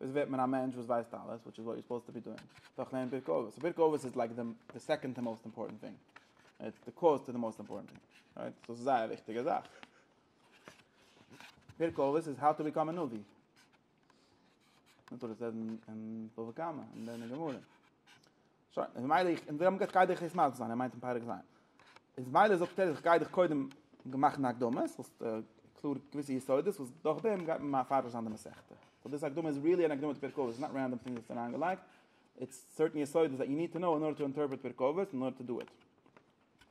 וואס ווערט מען א מענטש וואס ווייסט אלעס, וויטש איז וואט יו סופאוזד טו בי דואינג, דורך לערנען פרקי אבות, סאו פרקי אבות איז לייק די די סעקאנד טו מאסט אימפארטענט טינג, איטס די קאוז טו די מאסט אימפארטענט טינג, רייט? סאו ס'איז זייער א וויכטיגע זאך. פרקי אבות איז האו טו ביקאם א נביא. מ'טאר עס רעדן אין בבא קמא, און דען אין גמרא. שוין, און מילא איך, און זיי האבן געזאגט כ'גיי דיך יעצט מסביר זיין, ער מיינט אין פרק ז'. איז מילא זאגט ער כ'גיי דיך קודם מאכן א הקדמה, זאלסט קלאר געוויסע יסודות וואס דורך דעם גייט מען מפרש זיין די מסכת. סאו דאס הקדמה איז ריעלי אן הקדמה צו פרק אבות, ס'איז נאט רענדאם טינגס וואס זענען אריינגעלייגט, איטס סערטען יסודות דעט יו ניד טו נאו אין ארדער טו אינטערפרעט פרק אבות, אין ארדער טו דו איט.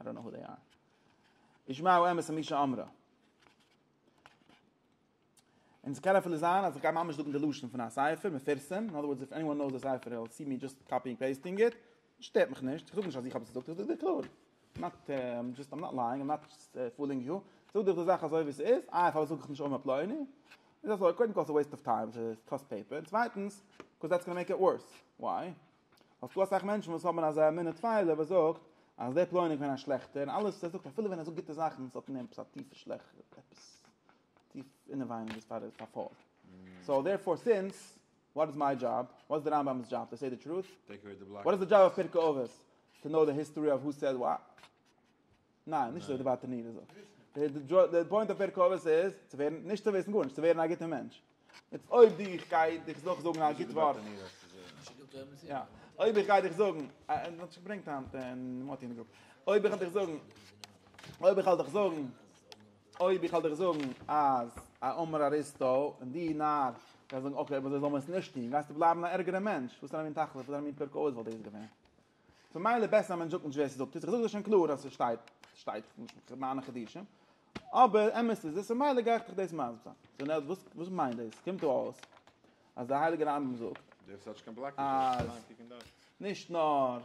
איי דאנט נאו הו דעי אר. ישמעו אמת ומי שאמרה. און ס'קען אפילו זיין אז איך גיי ממש זאגן די לשון פון א ספר מפורסם, אין אדער ווארדס איף עניוואן נאוס די ספר וויל סי מי דזשאסט קאפיאינג פעיסטינג איט, שטערט מיך נישט, איך זאג נישט אז איך האב עס געזאגט, איך זאג דיר קלאר. איים נאט דזשאסט איים נאט לייאינג, איים נאט פולינג יו, איך זאג דיר די זאך אזוי ווי ס'איז, איי פארוואס זאג איך נישט אמת פלוני? איז אזוי, קודם כל ס'איז א וועיסט אוו טיים, ס'קאסט פעיפער, און צווייטנס, קאוז דעטס גאנא מעיק איט ווארס, וויי? האסטו אסאך מענטשן וואס האבן אזא אמונה טפלה וואס זאגט אז דער פלוני קען א שלעכטער און אלעס וואס ער זאגט אפילו ווען ער זאגט גוטע זאכן עס האט אין אים עפעס א טיפע שלעכט עפעס טיף אינעווייניג איז פאר פאר פאר סאו דערפאר סינס וואט איז מיי דזשאב וואט איז די רמבם'ס דזשאב טו סעי די טרוט וואט איז די דזשאב אויף פרקי אבות טו נאו די היסטארי אוו הו סעד וואט ניין, נישט אזוי די ווייטע נידער זאגט. די פוינט אויף פרק אבות איז צו ווערן, נישט צו וויסן גארנישט, צו ווערן א גוטער מענטש. יעצט אויב די איך גיי דיך דאך זאגן א גוט ווארט. יא. אויב איך גיי דיך זאגן, ער האט שוין געברענגט היינט אין מאטי אין די גרופ. אויב איך וועל דיך זאגן, אויב איך וועל דיך זאגן, אויב איך וועל דיך זאגן אז א אמר אריסטו און די נאר וועסט זאגן אקעי אבער אזוי זאל מען עס נישט טון, גייסטו בלייבן א ערגערע מענטש. וואס פאר א מין תכלית, וואס פאר א מין פרק אבות וואלט דאס געווען? ממילא בעסער אז מען זאגט נישט ווער ס'זאגט עס, איך זאג דאס שוין קלאר אז ס'שטייט, ס'שטייט כמענה קדישא, אבער אמת איז עס, ממילא גיי איך דיך דאס מסביר זיין. סאו נאו וואס וואס מיינט דאס? קומט דא אויס אז דער הייליגער רמב ם זאגט אז נישט נאר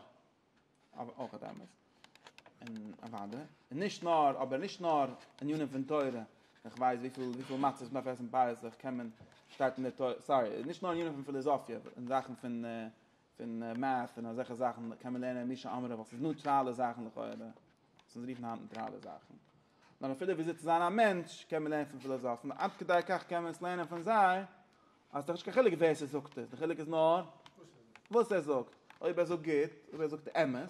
אבער אויך האט אמת, און אוואדע, און נישט נאר אבער נישט נאר ענינים פון תורה, איך ווייס וויפיל וויפיל מצות מ'דארף עסן פסח קען מען, שטייט אין די תורה, סארי, נישט נאר ענינים פון פיליזאפיע, אין זאכן פון פון מעט און אזעלכע זאכן קען מען לערנען מי שאמרה ווייל ס'איז נייטראלע זאכן לכאורה וואס אונז רופן היינט נייטראלע זאכן נאר אפילו וויאזוי צו זיין א מענטש קען מען לערנען פון פילאזאפן עד כדי כך קען מען עס לערנען פון זיי אז ס'איז דאך נישט קיין חילוק ווער ס'זאגט עס די חילוק איז נאר וואס ער זאגט אויב ער זאגט גוט אויב ער זאגט אמת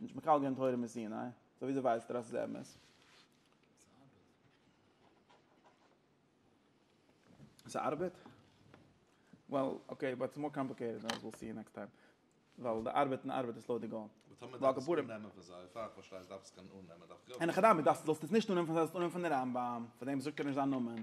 נישט מקבל געווען תורה מסיני, סאו וויאזוי ווייסט ער אז ס'איז אמת? ס'ארבעט? וועל, אקעי, באט ס'מאר קאמפליקעיטעד אז וויל סי יו נעקסט טיים. ווייל די ארבעט און ארבעט איז לויט די גאון. און טאמער דארף עס אננעמען פון זיי, פאר איך פארשטיי עס דארף עס קענען אננעמען, דארף איך יא. אין הכי נמי, זאלסט עס נישט אננעמען פון זיי, זאלסט אננעמען פון די רמב ם, פון דעם וואס זאגט ער נישט זיין נאמען.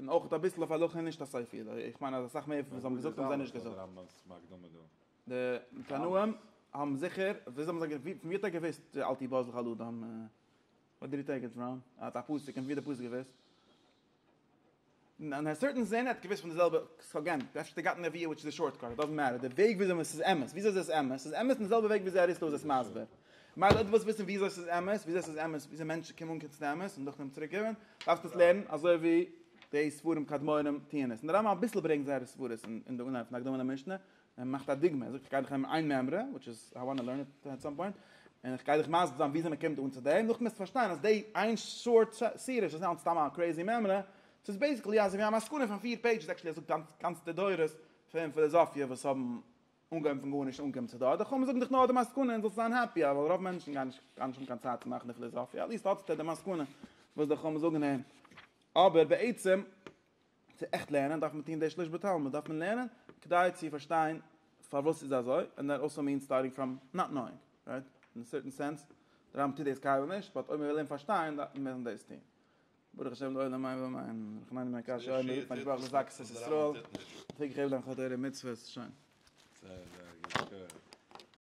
און אויך אביסל אויף הלכה נישט א ספר ידוע, איך מיין אז אסאך מער פון וואס זיי האבן געזאגט האבן זיי נישט געזאגט. די תנאים האבן זיכער, וויאזוי האבן זיי געוואוסט, פון ווי האט ער געוואוסט אל תהיה בז לך על אדם, ווער דיד י טעיק איט פראם, ער האט א פסק און פון ווי האט די פסק געוואוסט? אין א סערטען סענס ער האט געוואוסט פון די זעלבע סגענט, אפשר האט ער געהאט נביא וויטש איז די שארט קאט, איט דאזענט מעטער, די וועג וויאזוי עס איז אמת, וויאזוי איז עס אמת, עס איז אמת אין די זעלבע וועג וויאזוי אריסטו איז עס מסביר. מילא דו ווילסט וויסן וויאזוי עס איז אמת, וויאזוי עס איז אמת, וויאזוי מענטשן קומען אנקעגן צו די אמת און דורך דעם צוריק גיבן, דארפסטו עס לערנען אזוי ווי די ספרים קדמונים טוען עס. און די רמב ם אביסל ברענגט זייערע סברות אין די אנהייב פון הקדמה למשנה, ער מאכט א דוגמא, ער זאגט איך גיי דיך הערן איין מימרא, וויטש איז איי וואנט טו לערן איט עט סאם פוינט, און איך גיי דיך מסביר זיין וויאזוי מען קומט אן צו דעם, נאכדעם וועסטו פארשטיין אז די איין שארט סירש איז נישט סתם א קרעיזי מימרא, ס'איז בעיסיקלי אזוי ווי א מסקנא פון פיר פעידזשעס, עקטשעלי ער זאגט גאנצע דורות פון פילאזאפיע וואס האבן אנגעהויבן פון גארנישט און אנגעקומען צו דא, אדער כאמור זאג דיך נאר די מסקנא און זאלסט זיין העפי, ווייל רוב מענטשן גייען נישט גייען נישט האבן קיין צייט צו מאכן די פיליזאפיע, עטליעסט האט עטס די מסקנא וואס די כאמור זאגן אים, אבער בעצם צו עכט לערנען דארף מען טון די שליש בתלמוד, דארף מען לערנען כדי צו פארשטיין פארוואס ס'איז אזוי, ענד דעט אלסא מיענס סטארטינג פראם נאט נאוינג, רייט? אין א סערטען סענס, די רמב ם טוט דאס קיינמאל נישט, באט אויב מען וויל אים פארשטיין דארף מען דאס טון, ברוך השם לעולם מיין ועמיין, איך מיין מיין קשיא אויב מ'רופט מיין שבח דאס זאגסט עס איז טראל, איך וויל גיך העלפן דיין חטא אויב מיר מצוות, שוין. זייער זייער גוט.